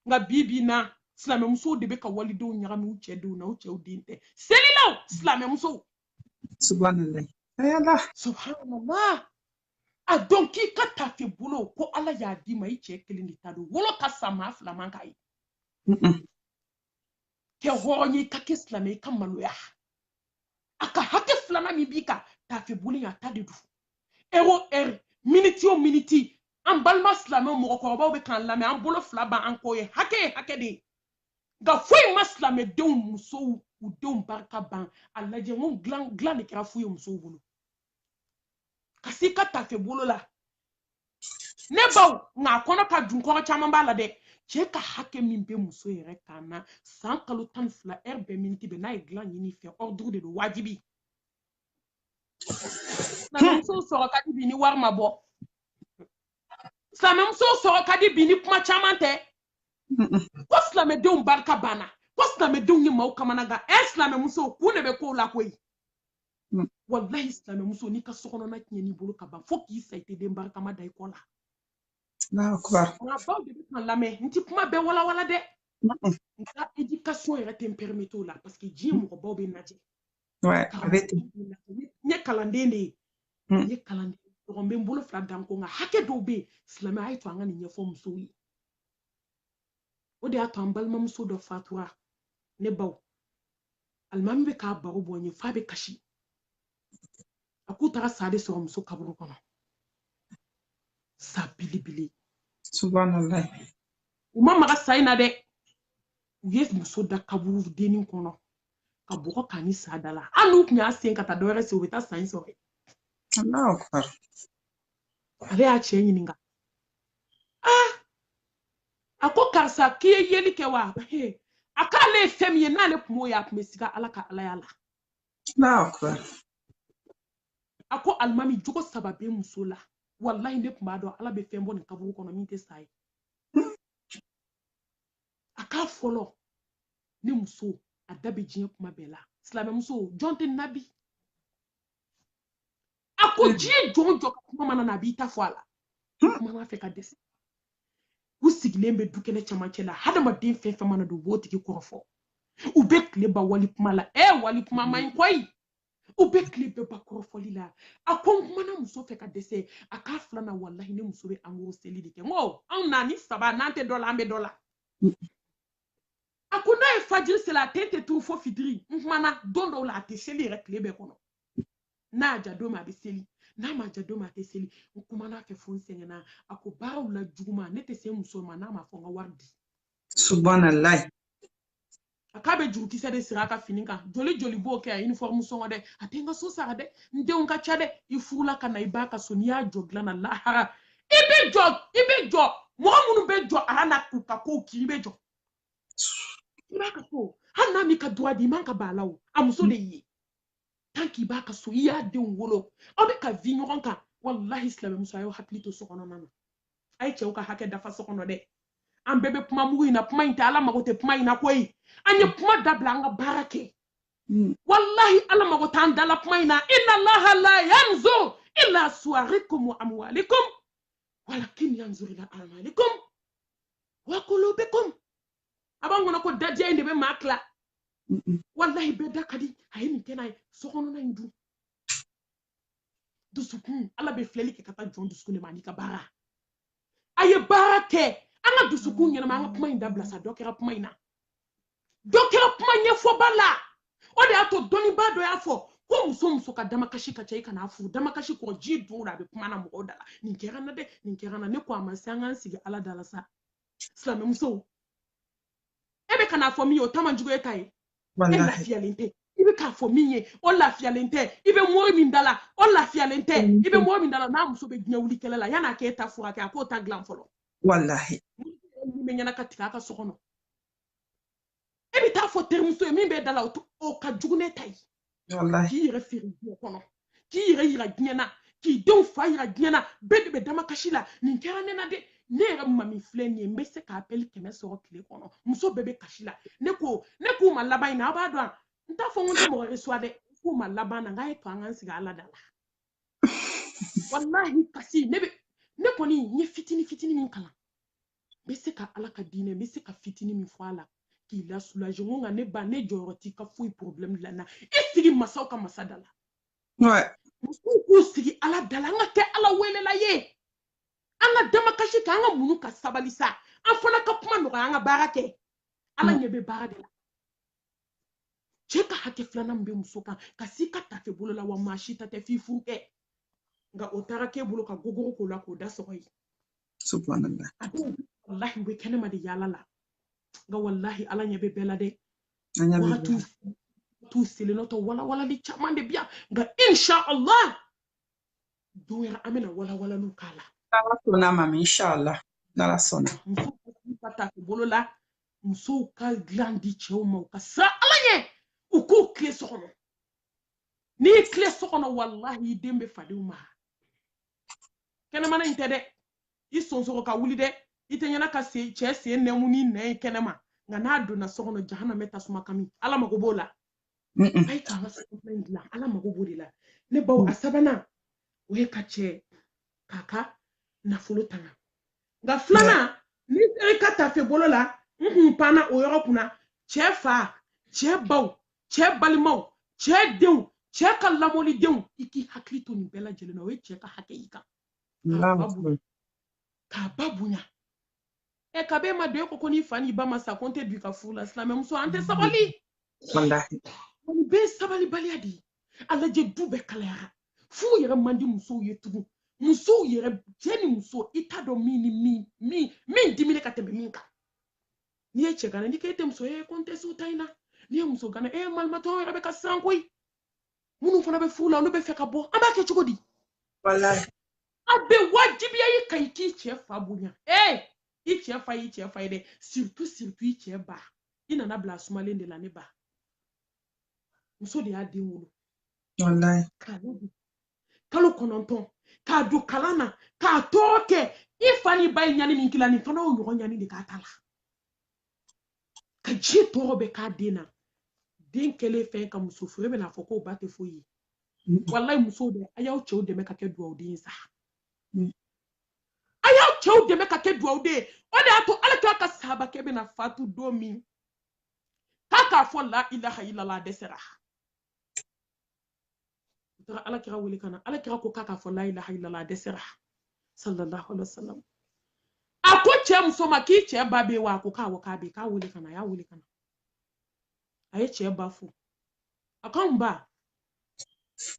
nka bi bi in na silamɛmusow de bɛ ka walidenw ɲagami u cɛ denw na u cɛw den tɛ selilaw silamɛmusow subhanallah ya ala subhanallah a dɔn k'i ka tafe bolo ko ala y'a d'i ma i cɛ kelen de ta don wolo ka sa maa fila man k'a ye kɛ hɔrɔn ye i ka kɛ silamɛ i ka maloya a ka hakɛ filanan min b'i kan tafe bolo a ta de don ɛri o ɛri miniti o miniti an balima silamɛw mɔgɔkɔrɔbaw bɛ k'an lamɛn an bolo fila b'an kɔ ye hakɛ ye hakɛ de ye nka foyi ma silamɛdenw musow u denw barika ban a lajɛ n ko dilan dilan de kɛra fu ye musow bolo ka s'i ka tafe bolo la ne baw nka a kɔnɔ ka dun kɔrɔ caman b'a la dɛ cɛ ka hakɛ min bɛ muso yɛrɛ kan na san kalo tan ni fila ɛri bɛɛ miniti bɛɛ n'a ye dilan ɲini i fɛ ɔriduru de don wajibi silamɛmusow sɔrɔ ka di bi ni wari ma bɔ silamɛmusow sɔrɔ ka di bi ni kuma caman tɛ ko silamɛdenw barika banna ko silamɛdenw ye maaw kamanagan ɛ silamɛmusow kun de bɛ kow la koyi mm. walahi silamɛmuso n'i ka sokɔnɔna tiɲɛn'i bolo ka ban fo k'i sa i tɛ den barikama da i kɔ la n ka baw de bɛ k'an lamɛn n tɛ kuma bɛɛ walawala dɛ n ka edikasɔn yɛrɛ tɛ n pɛrimete o la paseke diɲɛ mɔgɔbaw bɛ n lajɛ Ouais, a bɛ ten. N ye kalanden de ye. N hmm. ye kalanden ɲɔgɔn bɛ n bolo fila dan ko nka hakɛ dɔw bɛ yen silamɛ a y'a to an ka nin ɲɛfɔ musow ye. O de y'a to an balimamuso dɔ fatura ne baw. Alimami bɛ k'a baro bɔ n ye f'a bɛ kasi. A k'u taara sa de sɔrɔ muso kaburu kɔnɔ. Sa belebele. Subhanalayi. U ma maga sa in na dɛ. U ye muso da kaburu dennin kɔnɔ. ka bɔgɔ k'a ni sa da la hali n'u tun y'a sen ka taa dɔwɛrɛ sen u bɛ taa sa in sɔrɔ ale y'a cɛ ɲininka ah a ko karisa k'i ye yeli kɛ wa a k'ale ye fɛn min ye n'ale tun m'o ye a tun bɛ siga ala ka alaya la a ko alimami jogo saba bɛ muso la walahi ne tun b'a dɔn ala bɛ fɛn bɔ nin kaburu kɔnɔ min tɛ sa ye a k'a fɔlɔ ne muso a da bɛ diɲɛ kuma bɛɛ la silamɛmuso jɔn tɛ nin na bi a ko hmm. diɲɛ jɔn o jɔn ka kuma mana na a b'i ta fɔ a la hmm. kumana a fɛ ka dɛsɛ u sigilen bɛ du kɛnɛ cɛmancɛ la hadamaden fɛn fɛn mana don u b'o tigi kɔrɔfɔ u bɛ tile ban wali kuma la ɛ wali kuma man ɲi koyi u bɛ tile bɛɛ ban kɔrɔfɔli la a ko n kumana muso fɛ ka dɛsɛ a k'a filanan walahi ne muso bɛ en gros seli de kɛ n ko anw na nin saba n'an tɛ dɔ la an bɛ dɔ la a ko n'a ye fajiri seli a ten tɛ turu fo fitiri n kumana don dɔw la a tɛ seli yɛrɛ tile bɛɛ kɔnɔ n'a y'a ja don min a bɛ seli n'a m'a ja don min a tɛ seli n kumana a fɛ fo n sɛgɛnna a ko baaraw la juguman ne tɛ se muso ma n'a ma fɔ n ka wari di subhanallah a k'a bɛ jurukisɛ de siri a ka fini kan joli joli b'o kɛ a uniforme sɔngɔ dɛ a tɛ n ka so sara dɛ n denw ka ca dɛ i furula ka na i b'a ka so n'i y'a jɔ dilan na lahara i bɛ jɔ i bɛ jɔ mɔgɔ minnu bɛ jɔ ala la k'u ka kow k'i bɛ jɔ i b'a ka so hali n'a m'i ka droit di i man ka ban a la o a muso de y'i ye tant qu'i b'a ka so i y'a denw wolo aw bɛ ka vi ɲɔgɔn kan walahi silamɛmuso a y'aw hakili to so kɔnɔna na a ye cɛw ka hakɛ dafa so kɔnɔ dɛ an bɛɛ bɛ kuma mugu in na kuma in tɛ ala mago tɛ kuma in na koyi an ye kuma dabila an ka baara kɛ hmm. walahi ala mago t'an dala kuma in na inna allaha la yanzur ila suwarikum wa amwalikum walakin yanzur ila amalikum wa qulubikum a b'an kɔnɔ ko dadiya in de bɛ maa tila walahi bɛɛ da ka di a ye nin kɛnɛ ye sokɔnɔna in dun dusukun ala bɛ filɛli kɛ ka taa jɔn dusukun de ma an'i ka baara a ye baara kɛ an ka dusukun ɲɛnama an ka kuma in dabila sa dɔ kɛra kuma in na dɔ kɛra kuma ɲɛfɔba la o de y'a to dɔnnibaa dɔ y'a fɔ ko muso muso ka damakasi ka ca i kan'a furu damakasi kɔ ji don a bɛ kuma na mɔgɔw da la nin kɛra n na dɛ nin kɛra n na ne ko a ma se an k'an sigi ala da la sa silamɛmusow e bɛ kana fɔ min ye o ta man jugu e ta ye e lafiyalen tɛ i bɛ k'a fɔ min ye o lafiyalen tɛ i bɛ mori min da la o lafiyalen tɛ i bɛ mori min da la n'a muso bɛ diɲɛ wuli kɛlɛ la yan'a k'e ta furakɛ a k'o ta dilan fɔlɔ walahi min bɛ ɲɛna ka tigɛ a ka so kɔnɔ e bɛ t'a fɔ terimuso ye min bɛ da la o ka jugu ne ta ye k'i yɛrɛ feere diɲɛ kɔnɔ k'i yɛrɛ yira diɲɛ na k'i denw fa yira diɲɛ na bɛɛ de bɛ damakasi la nin kɛra ne na dɛ ne yɛrɛ mami filɛ nin ye n bɛ se ka appel kɛmɛ sɔrɔ tile kɔnɔ muso bɛɛ bɛ kasi la ne ko ne kuma laban in na aw b'a dɔn n t'a fɔ n ko n tɛ mɔgɔ reçoit dɛ kuma laban na n k'a ye to an k'an sigi ala da la walahi kasi ne bɛ ne kɔni n ye fitini fitini min kalan n bɛ se ka ala ka diinɛ n bɛ se ka fitini min fɔ a la k'i la soulager n ko nka ne ba ne jɔyɔrɔ t'i ka foyi problème dilan na i sigi masaw ka masa da la musow k'u sigi ala da la an ka kɛ ala welela ye an ka damakasi kɛ an ka muɲu ka sabali sa an fana ka kuma nɔgɔya an ka baara kɛ ala ɲɛ bɛ baara de la cɛ ka hakɛ filanan min bɛ muso kan ka s'i ka tafe bolo la wa maa si ta tɛ f'i furukɛ nka o taara k'e bolo ka gogoro k'o la k'o da sɔgɔ ye subhanallah a dɔw wallahi u bɛ kɛnɛma de yaala la nka wallahi ala ɲɛ bɛ bɛɛ la dɛ wagatiw t'u selenɔ tɔ walawalali caman de bi yan nka insha allah don wɛrɛ an bɛna walawalaliw k'a la n'ala sɔnna mami insha allah n'ala sɔnna musow ka tafe bolo la musow ka dilan di cɛw ma u ka siran ala ɲɛ u k'u tile so kɔnɔ n'i tile so kɔnɔ wallahi i den bɛ fadenw ma kɛnɛmana in tɛ dɛ i sonsoro ka wuli dɛ i tɛ ɲɛna ka se cɛ sen nɛmu ni nɛn ye kɛnɛma nka n'a donna so kɔnɔ jahanama tasuma kami ala mago b'o la a ye k'an ka so in dilan ala mago b'o de la ne baw a sabanan o ye ka cɛ k'a ka nafolo tanga nka filanan ni e ka tafe bolo la n kun panna o yɔrɔ kunna cɛ fa cɛ baw cɛ balimaw cɛ denw cɛ ka lamɔlidenw i k'i hakili to nin bɛɛ lajɛlen na o ye cɛ ka hakɛ y'i kan k'a ba bonya ɛ kab'e ma don e ko ko n'i fa n'i ba ma sa ko n tɛ don i ka furu la silamɛmuso an tɛ sabali nin bɛɛ ye sabalibaliya de ye a lajɛ du bɛɛ kalayara furu yɛrɛ man di musow ye tugun musow yɛrɛ cɛ ni muso i t'a dɔn min ni min min min diminen ka tɛmɛ min kan n'i ye cɛganan n'i k'e tɛ muso ye ko n tɛ s'o ta in na n'i ye musoganan e ye malimatɔ yɛrɛ bɛ ka siran koyi minnu fana bɛ furu la olu b'a fɛ ka bɔ an b'a kɛ cogo di a bɛ wajibiya i kan i k'i cɛ fa bonya ee i cɛ fa y'i cɛ fa ye dɛ surtout surtout i cɛ ba i nana bila sumalen de la ne ba muso de y'a den wolo kalo kɔnɔntɔn k'a don kalan na k'a tɔɔrɔ kɛ i fa n'i ba ye ɲani min k'i la nin fana y'o ɲɔgɔn ɲani de k'a ta la ka ji tɔɔrɔ bɛ k'a den na den kɛlen fɛn ka muso furu e bɛna fɔ k'o ba tɛ foyi ye mm. walayi musow dɛ a y'aw cɛw dɛmɛ ka kɛ duwawuden ye sa mm. a y'aw cɛw dɛmɛ ka kɛ duwawuden ye o de y'a to ala kira ka sahabakɛ bɛna fatu don min k'a k'a fɔ la ilaha ilala a dɛsɛra u taara ala kira wele ka na ala kira ko k'a k'a fɔ layilaha ilala a dɛsɛra sallallahu alaihi wasallam a ko cɛ muso ma k'i cɛ ba bɛ wa a ko k'awɔ k'a bɛ k'a wele ka na a y'a wele ka na a ye cɛ ba fo a ko n ba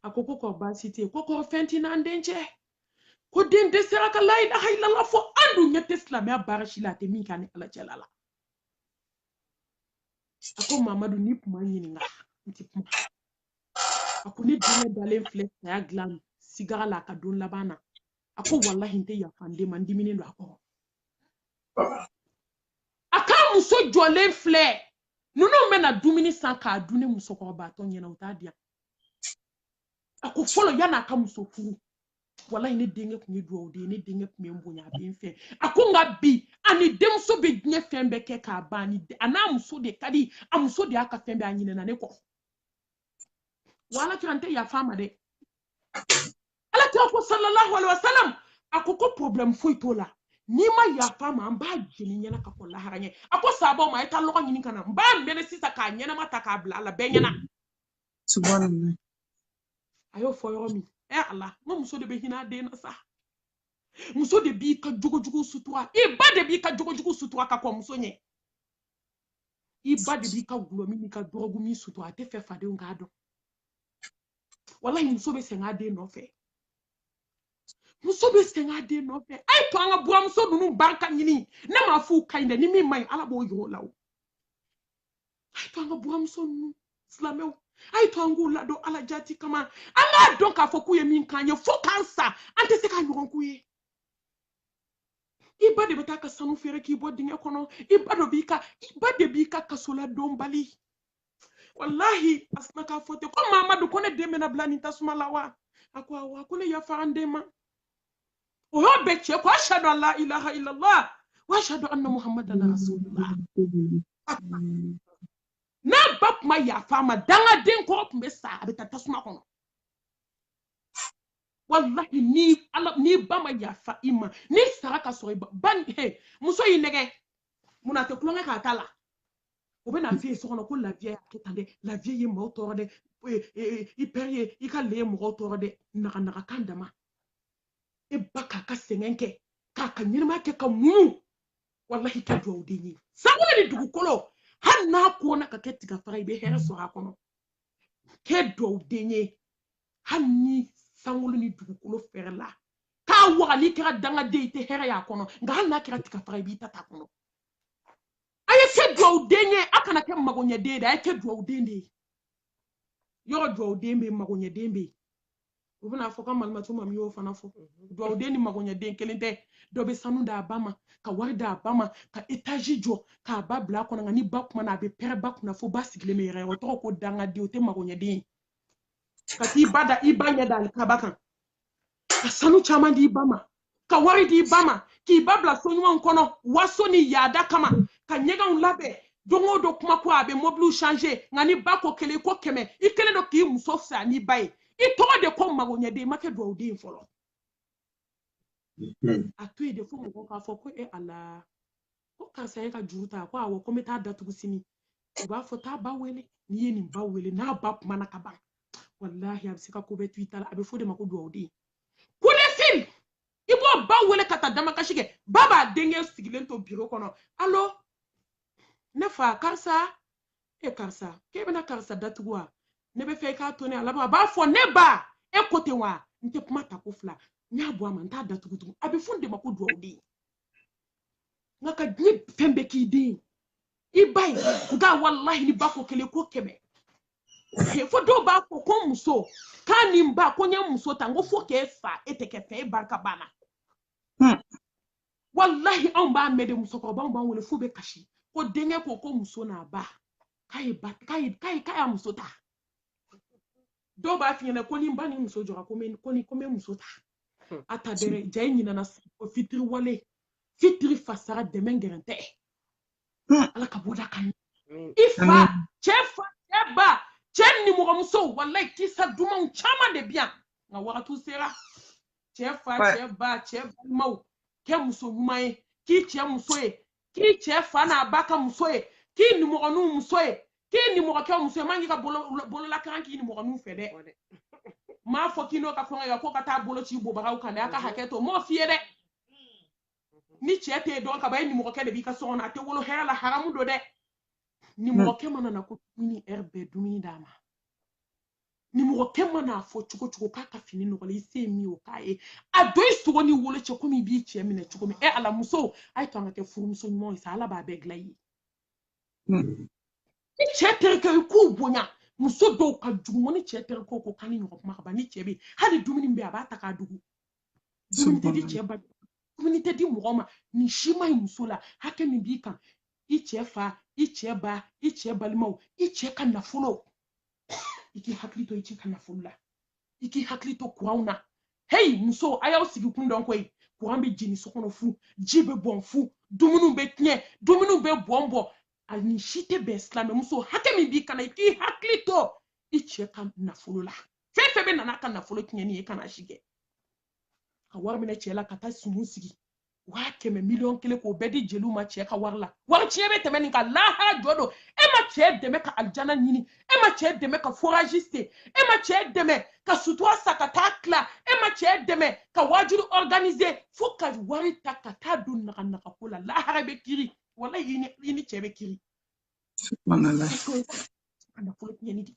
a ko ko kori baasi tɛ yen ko kori fɛn t'i n'an den cɛ ko den dɛsɛra ka layilaha ilala fɔ an dun ɲɛ tɛ silamɛya baara si la a tɛ min kɛ a ni ala cɛla la a ko mamadu n'i kun ma n ɲininka n tɛ kuma a ko ne denkɛ dalen filɛ saya dilan sigara la a ka don laban na a ko walahi n tɛ yafa n den ma n diminen don a kɔrɔ a k'a muso jɔlen filɛ ninnu bɛna dumuni san k'a dun ne musokɔrɔbatɔ ɲɛna u t'a di yan a ko fɔlɔ yan'a ka muso furu walayi ne denkɛ tun ye duwawuden ye ne denkɛ tun bɛ n bonya a bɛ n fɛ a ko nka bi a ni denmuso bɛ diɲɛ fɛn bɛɛ kɛ k'a ban a n'a muso de ka di a muso de y'a ka fɛn bɛɛ a ɲinɛna ne kɔ wa ala kira n tɛ yafa a ma dɛ ala kira ko sallallahu alaihi wa sallam a ko ko problème foyi t'o la n'i ma yafa a ma an b'a jeni i ɲɛna ka kɔn lahara ɲɛ a ko sahabaw ma a ye taa lɔgɔ ɲini ka na n b'a mɛnɛ sisan k'a ɲɛnama ta k'a bila a la bɛɛ ɲɛna subhanallah a y'o fɔ yɔrɔ min ɛ eh, ala n ko muso de bɛ hinɛ a den na sa muso de b'i ka jogojugu sutura i ba de b'i ka jogojugu sutura ka kɔn muso ɲɛ i ba de b'i ka dɔlɔmin n'i ka dɔrɔgumin sutura a t'a fɛ fadenw k'a dɔn walayi muso bɛ sɛgɛn a den nɔfɛ muso bɛ sɛgɛn a den nɔfɛ a ye to an ka buranmuso ninnu barika ɲini ne m'a f'u ka ɲi dɛ ni min man ɲi ala b'o yir'o la o a ye to an ka buranmuso ninnu silamɛw a ye to an k'u ladon ala jati kama an k'a dɔn k'a fɔ k'u ye min k'an ye fo k'an sa an tɛ se k'a ɲɔgɔn k'u ye i ba de bɛ taa a ka sanu feere k'i bɔ dingɛ kɔnɔ i ba dɔ b'i ka i ba de b'i ka kasoladon bali walahi a sinna k'a fɔ ten ko mamadu ko ne den bɛna bila nin tasuma la wa a ko awɔ a ko ne yafara n den ma o y'o bɛɛ cɛ ko ashadu an la ilaha illallah wa ashadu anna muhammadan rasulullah n'a ba tun ma yafa a ma dangaden kɔrɔ tun bɛ sa a bɛ taa tasuma kɔnɔ walahi n'i ba ma yafa i ma n'i sara ka sɔrɔ i ba ba he muso y'i nɛgɛn mun na a tɛ tulonkɛ k'a ta la o bɛ n'a f'i ye so kɔnɔ ko la vieille y'a kɛ tan dɛ la vieille ye maaw tɔɔrɔ dɛ i pɛri ye i ka le ye mɔgɔw tɔɔrɔ dɛ naga naga kan dama e ba k'a ka sɛgɛn kɛ k'a ka ɲɛnamaya kɛ ka muɲu walahi kɛ duwawu den ye sankolo ni dugukolo hali n'a kona ka kɛ tigafara i bɛ hɛrɛ sɔrɔ a kɔnɔ kɛ duwawu den ye hali ni sankolo ni dugukolo fɛrɛla ka waga n'i kɛra dangaden i tɛ hɛrɛ y'a kɔnɔ nka hali n'a kɛra tigafara i b'i ta t'a kɔnɔ a ye kɛ duwawu den ye a kana kɛ magoɲɛden ye dɛ a ye kɛ duwawu den de ye yɔrɔ duwawuden bɛ yen magoɲɛden bɛ yen u bɛna fɔ ka malimatu ma min y'o fana fɔ mhm. duwawuden ni magoɲɛden kelen tɛ dɔ bɛ sanu d'a ba ma ka wari d'a ba ma ka etazi jɔ k'a ba bila a kɔnɔ nka ni ba kumana a bɛ pɛrɛn ba kunna fo ba sigilen bɛ yɛrɛyɛrɛ o tɔgɔ ko dangaden o tɛ magoɲɛden ye ka t'i ba da i ba ɲɛ da alikaba kan ka sanu caman d'i ba ma ka wari d'i ba ma k'i ba bila so ɲumanw kɔnɔ waso ni yaada kama ka ɲɛgɛnw labɛn don o don kuma ko a bɛ mɔbiliw change nka n'i ba ko kelen i ko kɛmɛ i kelen don k'i muso fisa n'i ba ye i tɔgɔ de ko magoɲɛden i ma kɛ dugawuden fɔlɔ a to yen de fo mɔgɔw k'a fɔ ko e ala ko karisa y'a ka juru ta ko awɔ ko n bɛ t'a datugu sini u b'a fɔ taa ba wele n'i ye nin ba wele n'a ba kumana ka ban walahi a bɛ se ka ko bɛɛ to i ta la a bɛ fɔ o de ma ko dugawuden kolefin i b'o ba wele ka taa damakasi kɛ ba b'a denkɛ sigilen to biro kɔnɔ alo ne fa karisa e karisa k'e bɛna karisa datugu wa ne b'a fɛ i k'a to ne la a b'a fɔ ne ba e ko ten wa n tɛ kuma ta ko fila n y'a bɔ a ma n t'a datugu tugun a bɛ fɔ o de ma ko dugawuden nka ka nin fɛn bɛɛ k'i den i ba ye nka walahi n'i ba ko kelen ko kɛmɛ fo dɔw b'a fɔ ko muso k'a ni n ba ko n ye muso ta n ko fo k'e fa e tɛ kɛ fɛn e barika banna hmm. walahi anw b'a mɛn de musokɔrɔbaw b'an wele f'u bɛ kasi ko denkɛ ko ko muso n'a ba k'a ye ba k'a ye k'a ye k'a y'a muso ta dɔw b'a f'i ɲɛna ko ni n ba ni muso jɔra ko n bɛ ko ni ko n bɛ muso ta hmm. a ta dɛrɛ jaa i ɲinana o fitiriwale fitiri fasara dɛmɛ gɛrɛn tɛ hmm. ala ka bɔda kan hmm. i fa cɛ fa cɛ ba cɛ nimɔgɔmuso walayi kisa dumanw caman de bɛ yan nka wagatiw sera cɛ fa cɛ ba cɛ balimaw kɛ muso ɲuman ye k'i cɛ muso ye k'i cɛ fa n'a ba ka muso ye k'i nimɔgɔninw muso ye k'i nimɔgɔkɛ muso ye man k'i ka bololakaran k'i nimɔgɔninw fɛ dɛ m'a fɔ k'i n'o ka kɔngɔ kɛ ko ka taa bolo ci bobaraw kan dɛ a ka hakɛ to m'o f'i ye dɛ ni cɛ tɛ dɔn ka ban e nimɔgɔkɛ de b'i ka so kɔnɔ a tɛ wolo hɛrɛ la haramu don dɛ nimɔgɔkɛ mana na ko dumuni ɛ i bɛ dumuni d'a ma nimɔgɔkɛ man'a fɔ cogo cogo k'a ka fini nɔgɔlen i se ye min ye o k'a ye a don i sogo ni wolo cɛ komi i b'i cɛ minɛ cogo min ɛ ala musow a y'a to an ka kɛ furumuso ɲumanw ye sa ala b'a bɛɛ dilan i ye hmm. ni cɛ terikɛ i k'u bonya muso dɔw ka jugu ni cɛ terikɛw ko k'an ni ɲɔgɔn kuma ka ban ni cɛ bɛ hali dumuni bɛ a b'a ta k'a dogo dumuni tɛ di cɛ ba dumuni tɛ di mɔgɔ ma nin si ma ɲi muso la hakɛ min b'i kan i cɛ fa i cɛ ba i cɛ balimaw i cɛ ka nafolo i k'i hakili to i cɛ ka nafolo la i k'i hakili to kuranw na heyi muso a y'aw sigi kun dɔn koyi kuran bɛ jeni so kɔnɔ fu ji bɛ bɔn fu dumuniw bɛ tiɲɛ dumuniw bɛ bɔn bɔn a nin si tɛ bɛn silamɛmuso hakɛ min b'i kan na i k'i hakili to i cɛ ka nafolo la fɛn fɛn bɛ na n'a ka nafolo tiɲɛni ye i kana si kɛ ka wari minɛ cɛ la ka taa sumu sigi waa kɛmɛ miliyɔn kelen k'o bɛɛ di jeliw ma cɛ ka wari la wari tiɲɛ bɛ tɛmɛ nin kan lahara jɔ don e ma cɛ dɛmɛ ka alijana ɲini e ma cɛ dɛmɛ ka forazi sen e ma cɛ dɛmɛ ka sutura san ka taa tila e ma cɛ dɛmɛ ka waajuru ɔriganize fo ka wari ta ka taa don naganaga ko la lahara bɛ kiri walahi i ni cɛ bɛ kiri nafolo tiɲɛni de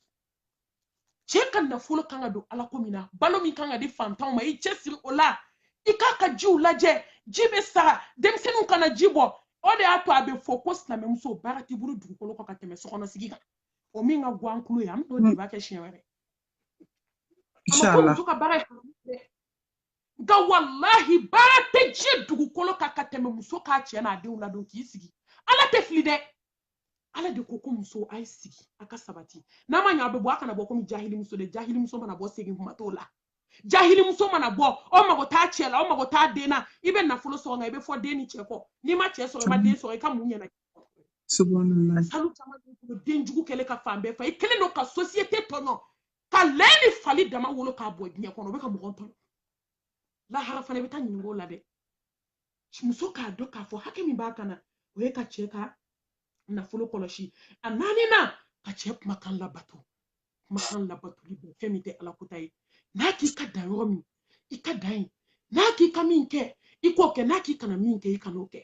cɛ ka nafolo kan ka don ala ko min na balo min kan ka di fantanw ma i cɛsiri o la i k'a ka jiw lajɛ ji bɛ sara denmisɛnninw kana ji bɔn o de y'a to a bɛ fɔ ko silamɛmuso baara t'i bolo dugukolo kɔ ka tɛmɛ sokɔnɔsigi kan o min ka guwan kulu ye an bɛ t'o de b'a kɛ siɲɛ wɛrɛ a ma ko muso ka baara ye nka walahi baara tɛ diɲɛ dugukolo kan ka tɛmɛ muso k'a cɛ n'a denw ladon k'i sigi ala tɛ fili dɛ ala de ko ko muso a ye sigi a ka sabati n'a ma ɲa a bɛ bɔ a kana bɔ komi jahilimuso dɛ jahilimuso mana bɔ segin kuma t'o la jahilimuso mana bɔ o mago t'a cɛ la o mago t'a den na i bɛ nafolo sɔrɔ nka i bɛ fɔ den ni cɛ kɔ n'i ma cɛ sɔrɔ i ma den sɔrɔ i ka mun ɲɛna salu caman b'i bolo den jugu kɛlen ka fan bɛɛ fa i kɛlen don ka sosiyete tɔɲɔ ka lɛ ni fali dama wolo k'a bɔn diɲɛ kɔnɔ o bɛ ka mɔgɔ tɔɲɔ lahara fana i bɛ taa ɲinink'o la dɛ muso k'a dɔn k'a fɔ hakɛ min b'a kan na o ye ka cɛ ka nafolo kɔlɔsi a naaninan ka cɛ kumakan labato kumakan labatoli b'o fɛn min tɛ ala kota ye n'a k'i ka dan yɔrɔ min i ka dan yen n'a k'i ka min kɛ i k'o kɛ n'a k'i kana min kɛ i kan'o kɛ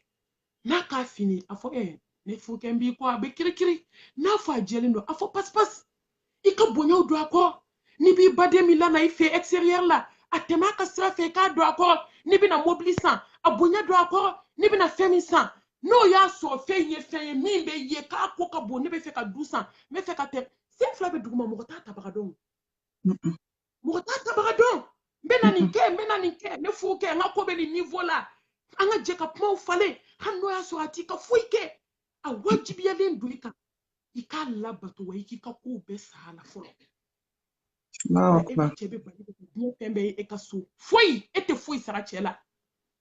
n'a k'a finnen a fɔ ɛɛ ne furukɛ n b'i kɔ a bɛ kirikiri n'a fɔ a jɛlen don a fɔ pasipasi i ka bonyaw don a kɔrɔ n'i b'i baden min lana i fɛ extérieur la a tɛmɛ a ka sira fɛ i k'a don a kɔrɔ n'i bɛna mobili san a bonya don a kɔrɔ n'i bɛna fɛn min san n'o y'a sɔrɔ fɛn in ye fɛn ye min bɛ ye k'a ko ka bon ne bɛ fɛ ka du san n bɛ fɛ ka tɛ sen fila bɛ duguma mɔgɔ t'a tabaga dɔn mɔgɔ t'a tabaga dɔn n bɛna nin kɛ n bɛna nin kɛ ne furukɛ n ka ko bɛ nin niveau la an ka jɛ ka kumaw falen hali n'o y'a sɔrɔ a t'i ka foyi kɛ a wajibiyalen don i kan i k'a labato wa i k'i ka kow bɛɛ sara a la fɔlɔ e bɛ cɛ bɛ bala ka diɲɛ fɛn bɛɛ ye e ka so foyi e tɛ foyi sara cɛ la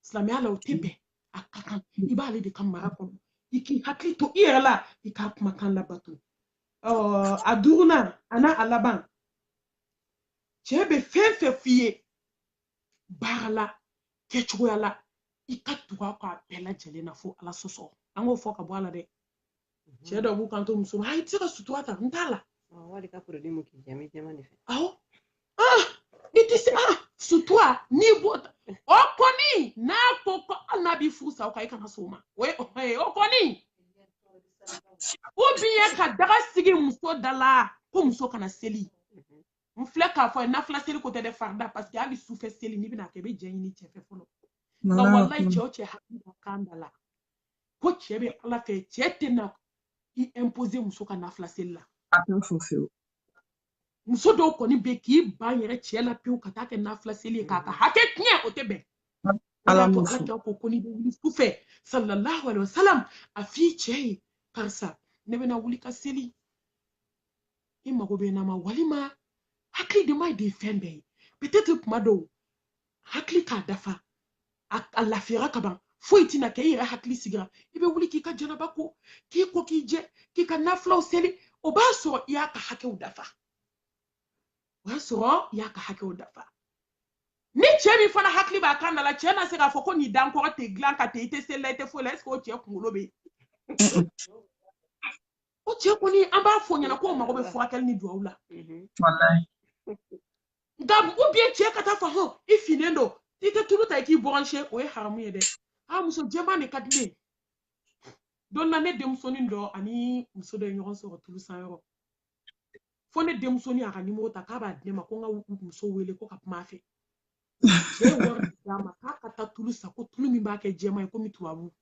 silamɛya la o tɛ bɛn a ka kan i b'ale de ka mara kɔnɔ i k'i hakili to i yɛrɛ la i k'a kumakan labato a duurunan a n'a laban cɛ bɛ fɛn fɛn f'i ye baara la kɛcogoya la i ka tugu a kɔ a bɛɛ lajɛlen na fo ala sɔsɔ an k'o fɔ ka bɔ a la dɛ mhm. cɛ dɔw b'u kan to muso ma ah i tɛ se ka sutura ta n t'a la wali ka produit mu k'i jɛ n bɛ jɛman de fɛ awɔ ah i tɛ se ah sutura n'i b'o ta o kɔni n'a ko ko hali n'a b'i furu sa o kan i kana sɔn o ma o ye o kɔni ou bien ka daga sigi muso da la ko muso kana seli n filɛ k'a fɔ nafila seli ko tɛ dɛ farida parce que hali sufɛ seli n'i bɛna kɛ i bɛ jɛn ɲini cɛ fɛ fɔlɔ nka walayi cɛ o cɛ hakili b'a kan da la ko cɛ bɛ ala fɛ cɛ tɛna i imposer muso ka nafila seli la a t'o fɔ fewu muso dɔw kɔni bɛ k'i ban yɛrɛ cɛ la pewu ka taa kɛ nafila seli ye k'a ka hakɛ tiɲɛ o tɛ bɛn ala m'o fɔ ala ko ko n'i bɛ wuli sufɛ sallallahu alaihi wasallam a f'i cɛ ye karisa ne bɛna wuli ka seli i mago bɛ n na wa walima hakili dama de ye fɛn bɛɛ ye peut-être kuma dɔw hakili k'a dafa a lafiyara ka ban foyi tɛna kɛ i yɛrɛ hakili sigira i bɛ wuli k'i ka janaba ko k'i ko k'i jɛ k'i ka nafilaw seli o b'a sɔrɔ i y'a ka hakɛw dafa o y'a sɔrɔ i y'a ka hakɛw dafa ni cɛ min fana hakili b'a kan da la cɛ na se k'a fɔ ko n'i da n kɔrɔ tɛ dilan kan tɛ i tɛ seli la i tɛ foyi la est-ce que o cɛ kunkolo bɛ yen o cɛ kɔni an b'a fɔ ɲɛna k'o mago bɛ furakɛli ni dugawu la nka ou bien cɛ ka taa fɔ hɔn i finnen don i tɛ tulu ta i k'i bronzer o ye haramu ye dɛ a muso jɛman de ka di ne ye don na ne denmusonin dɔ ani muso dɔ ye ɲɔgɔn sɔrɔ tulu san yɔrɔ fo ne denmusonin y'a ka nimoro ta k'a b'a di ne ma ko n ka muso wele ko ka kuma a fɛ cɛ ye wari d'a ma k'a ka taa tulu san ko tulu min b'a kɛ jɛman ye komi tubabu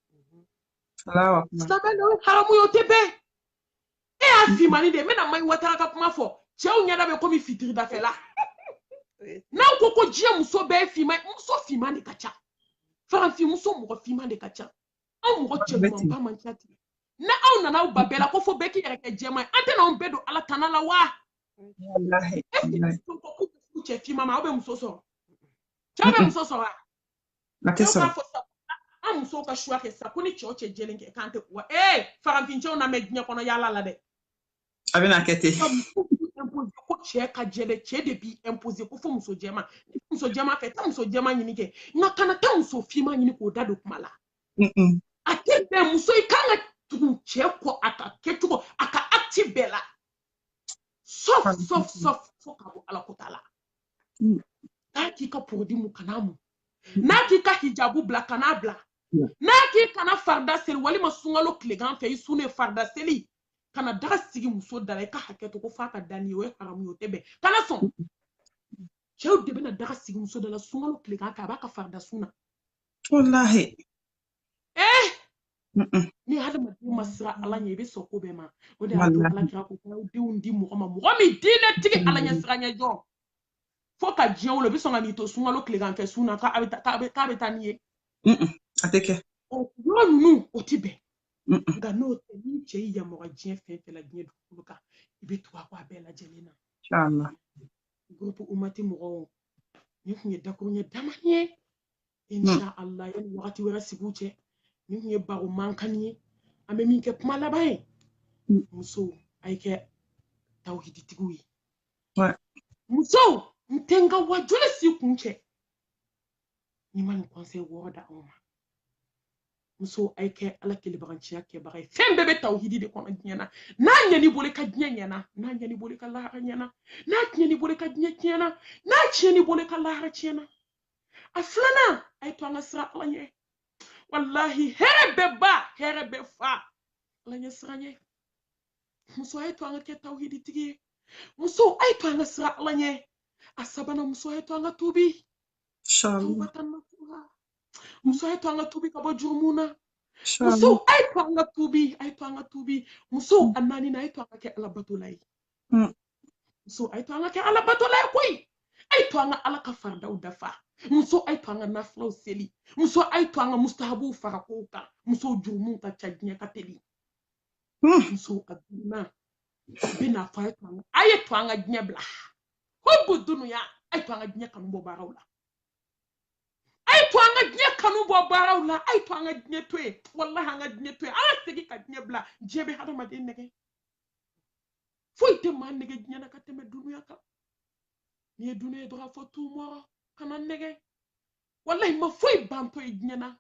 silamɛ o ye haramu ye o tɛ bɛn e y'a finmannin de ye n bɛna mayi watara ka kuma fɔ cɛw ɲɛda bɛ komi fitiridafɛla n'aw ko ko diɲɛ muso bɛɛ ye finman ye muso finman de ka ca farafinmuso mɔgɔ finman de ka ca anw mɔgɔ cɛɲumanba man ca ten ni aw nana aw ban bɛɛ la ko fo bɛɛ k'i yɛrɛ kɛ jɛman ye an tɛna anw bɛɛ don ala tana la wa ɛseke cɛ finman ma aw bɛ muso sɔrɔ cɛw bɛ muso sɔrɔ wa a tɛ sɔrɔ an musow ka choix kɛ sa ko ni cɛ o cɛ jɛlen tɛ k'an tɛ wa ee farafin cɛw na mɛɛn diɲɛ kɔnɔ yaala la dɛ a bɛna kɛ ten ko cɛ ka jɛ dɛ cɛ de b'i imposer ko fo muso jɛman muso jɛman fɛ taa muso jɛman ɲini kɛ nka kana taa muso finman ɲini k'o da don kuma la a tɛ bɛn muso i kan ka tugu cɛ kɔ a ka kɛcogo a ka acte bɛɛ la sɔf sɔf sɔf fo ka bɔ ala ko ta la mm. n'a k'i ka porodi mu kan'a mu mm. n'a k'i ka hijabu bila kan'a bila mm. n'a k'i kana farida seli walima sunkalo tilegan fɛ i sunnen farida seli ka na daga sigi muso da la i ka hakɛ to ko f'a ka da n'i ye o ye haramu ye o tɛ bɛn kana sɔn cɛw de bɛna daga sigi muso da la sunkalo tilegan fɛ a b'a ka farida sun na walahi eh! ni hadamaden ma siran ala ɲɛ i bɛ sɔn ko bɛɛ ma o de y'a to ala kira ko k'aw denw di mɔgɔ ma mɔgɔ min diinɛtigi ala ɲɛ siranɲɛ jɔ fo ka diɲɛ wolo i bɛ sɔn ka n'i to sunkalo tilegan fɛ sun na k'a bɛ taa k'a bɛ taa n'i ye a tɛ kɛ o yɔrɔ ninnu o tɛ bɛn nka n'o tɛ ni cɛ y'i yamaruya diɲɛ fɛn fɛn la diɲɛ dugukolo kan i bɛ tugu a kɔ a bɛɛ lajɛlen na gurupu umati mɔgɔw nin tun ye dakuruɲɛ damanin ye insha allah yanni wagati wɛrɛ sigiw cɛ nin tun ye baro mankannin ye an bɛ min kɛ kuma laban ye musow a ye kɛ tawhiditigiw ye musow n tɛ n ka wajuli si kuncɛ ni n ma nin kɔnsɛyi wɔɔrɔ d'aw ma muso a ye kɛ ala kelebaganciya kɛbaga ye fɛn bɛɛ bɛ tawhidi de kɔnɔ diɲɛ na n'a ɲɛn'i bolo i ka diɲɛ ɲɛna n'a ɲɛn'i bolo i ka lahara ɲɛna n'a tiɲɛn'i bolo i ka diɲɛ tiɲɛna n'a tiɲɛn'i bolo i ka lahara tiɲɛna a filanan a ye to an ka siran ala ɲɛ walahi hɛrɛ bɛɛ ba hɛrɛ bɛɛ fa ala ɲɛ siranɲɛ muso a ye to an ka kɛ tawhiditigi ye muso a ye to an ka siran ala ɲɛ a sabanan muso a ye to an ka tubi muso a ye to an ka tubi ka bɔ jurumu na muso a ye to an ka tubi a ye to an ka tubi muso a naaninan a ye to an ka kɛ ala batola ye muso a ye to an ka kɛ ala batola ye koyi a ye to an ka ala ka faridaw dafa muso a ye to an ka nafilaw seli muso a ye to an ka mustahabuw fara kow kan musow jurumuw ka ca diɲɛ ka teli hmm. muso a duurunan b'i n'a fɔ a ye to an ka diɲɛ bila hubu dunuya a ye to an ka diɲɛ kanu bɔ baaraw la a ye to an ka diɲɛ kanu bɔ baaraw la a ye to an ka diɲɛ to yen walahi an ka diɲɛ to yen an ka segin ka diɲɛ bila diɲɛ bɛ hadamaden nɛgɛ foyi tɛ maa nɛgɛ diɲɛ na ka tɛmɛ dunuya kan n'i ye dunuya dɔrɔn fɔ tun mɔgɔ kana nɛgɛ walayi ma foyi bantɔ ye diɲɛ na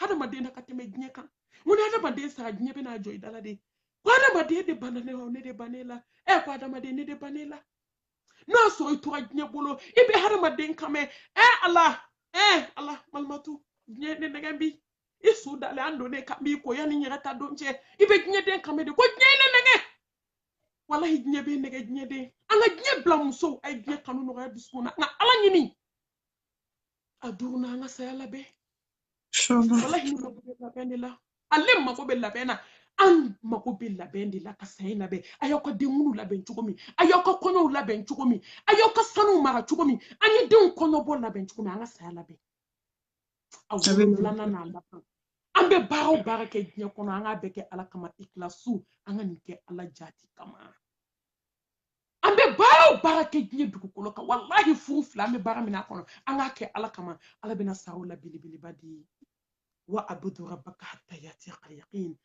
hadamaden na ka tɛmɛ diɲɛ kan n ko ni hadamaden sara diɲɛ bɛ na jɔ i da la de ko hadamaden de banna ne la ne de banna e la ɛ ko hadamaden ne de banna e la n'a sɔrɔ i tora diɲɛ bolo i bɛ hadamaden kan mɛn ɛ ala ɛ ala malimatu diɲɛ ne nɛgɛ bi i su dalen an donnen k'an b'i ko yanni ɲɛgɛn ta don cɛ i bɛ diɲɛden kan mɛn de ko diɲɛ ye ne nɛgɛ walahi diɲɛ bɛ nɛgɛ diɲɛden an ka diɲɛ bila musow a ye diɲɛ kanu nɔgɔya dusukun na an ka ala ɲini a duurunan an ka saya labɛn walahi ne mako bɛ labɛn de la ale mako bɛ labɛn na an mako bɛ labɛn de la ka saya labɛn a y'aw ka denkundi labɛn cogo min a y'aw ka kɔɲɔw labɛn cogo min a y'aw ka sanuw mara cogo min an ye denw kɔɲɔbɔ labɛn cogo min an ka saya labɛn a wolonwulanan n'a laban an bɛ baara o baara kɛ diɲɛ kɔnɔ an k'a bɛɛ kɛ ala kama ikilasu an ka nin kɛ ala jati kama an bɛ baara o baara kɛ diɲɛ dugukolo kan walahi furu fila an bɛ baara min a kɔnɔ an k'a kɛ ala kama ala bɛna saraw la belebeleba di wa abudu rabbaka hatta yatiyakal yaqin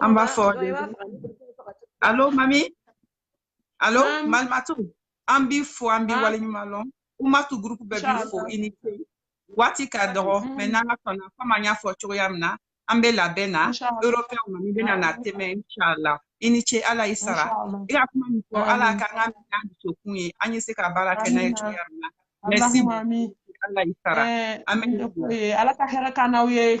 An b'a fɔ dɛ. Allô, mami? Allô, um, malmatu? An b'i fo, an b'i waleɲuman lɔn. Umatu groupe bɛɛ b'i fo, i ni ce. Waati ka dɔgɔ, mɛ n'an ka sɔnna, komi an y'a fɔ cogoya min na, an bɛ labɛn na, européen mami bɛna na tɛmɛ, inshallah. I ni ce Ala y'i sara. I ka kuma min fɔ, Ala k'an k'a minɛ an dusukun ye, an ye se ka baara kɛ n'a ye cogoya min na. Merci. Ala y'i sara. Amen. Ala ka hɛrɛ k'an n'aw ye.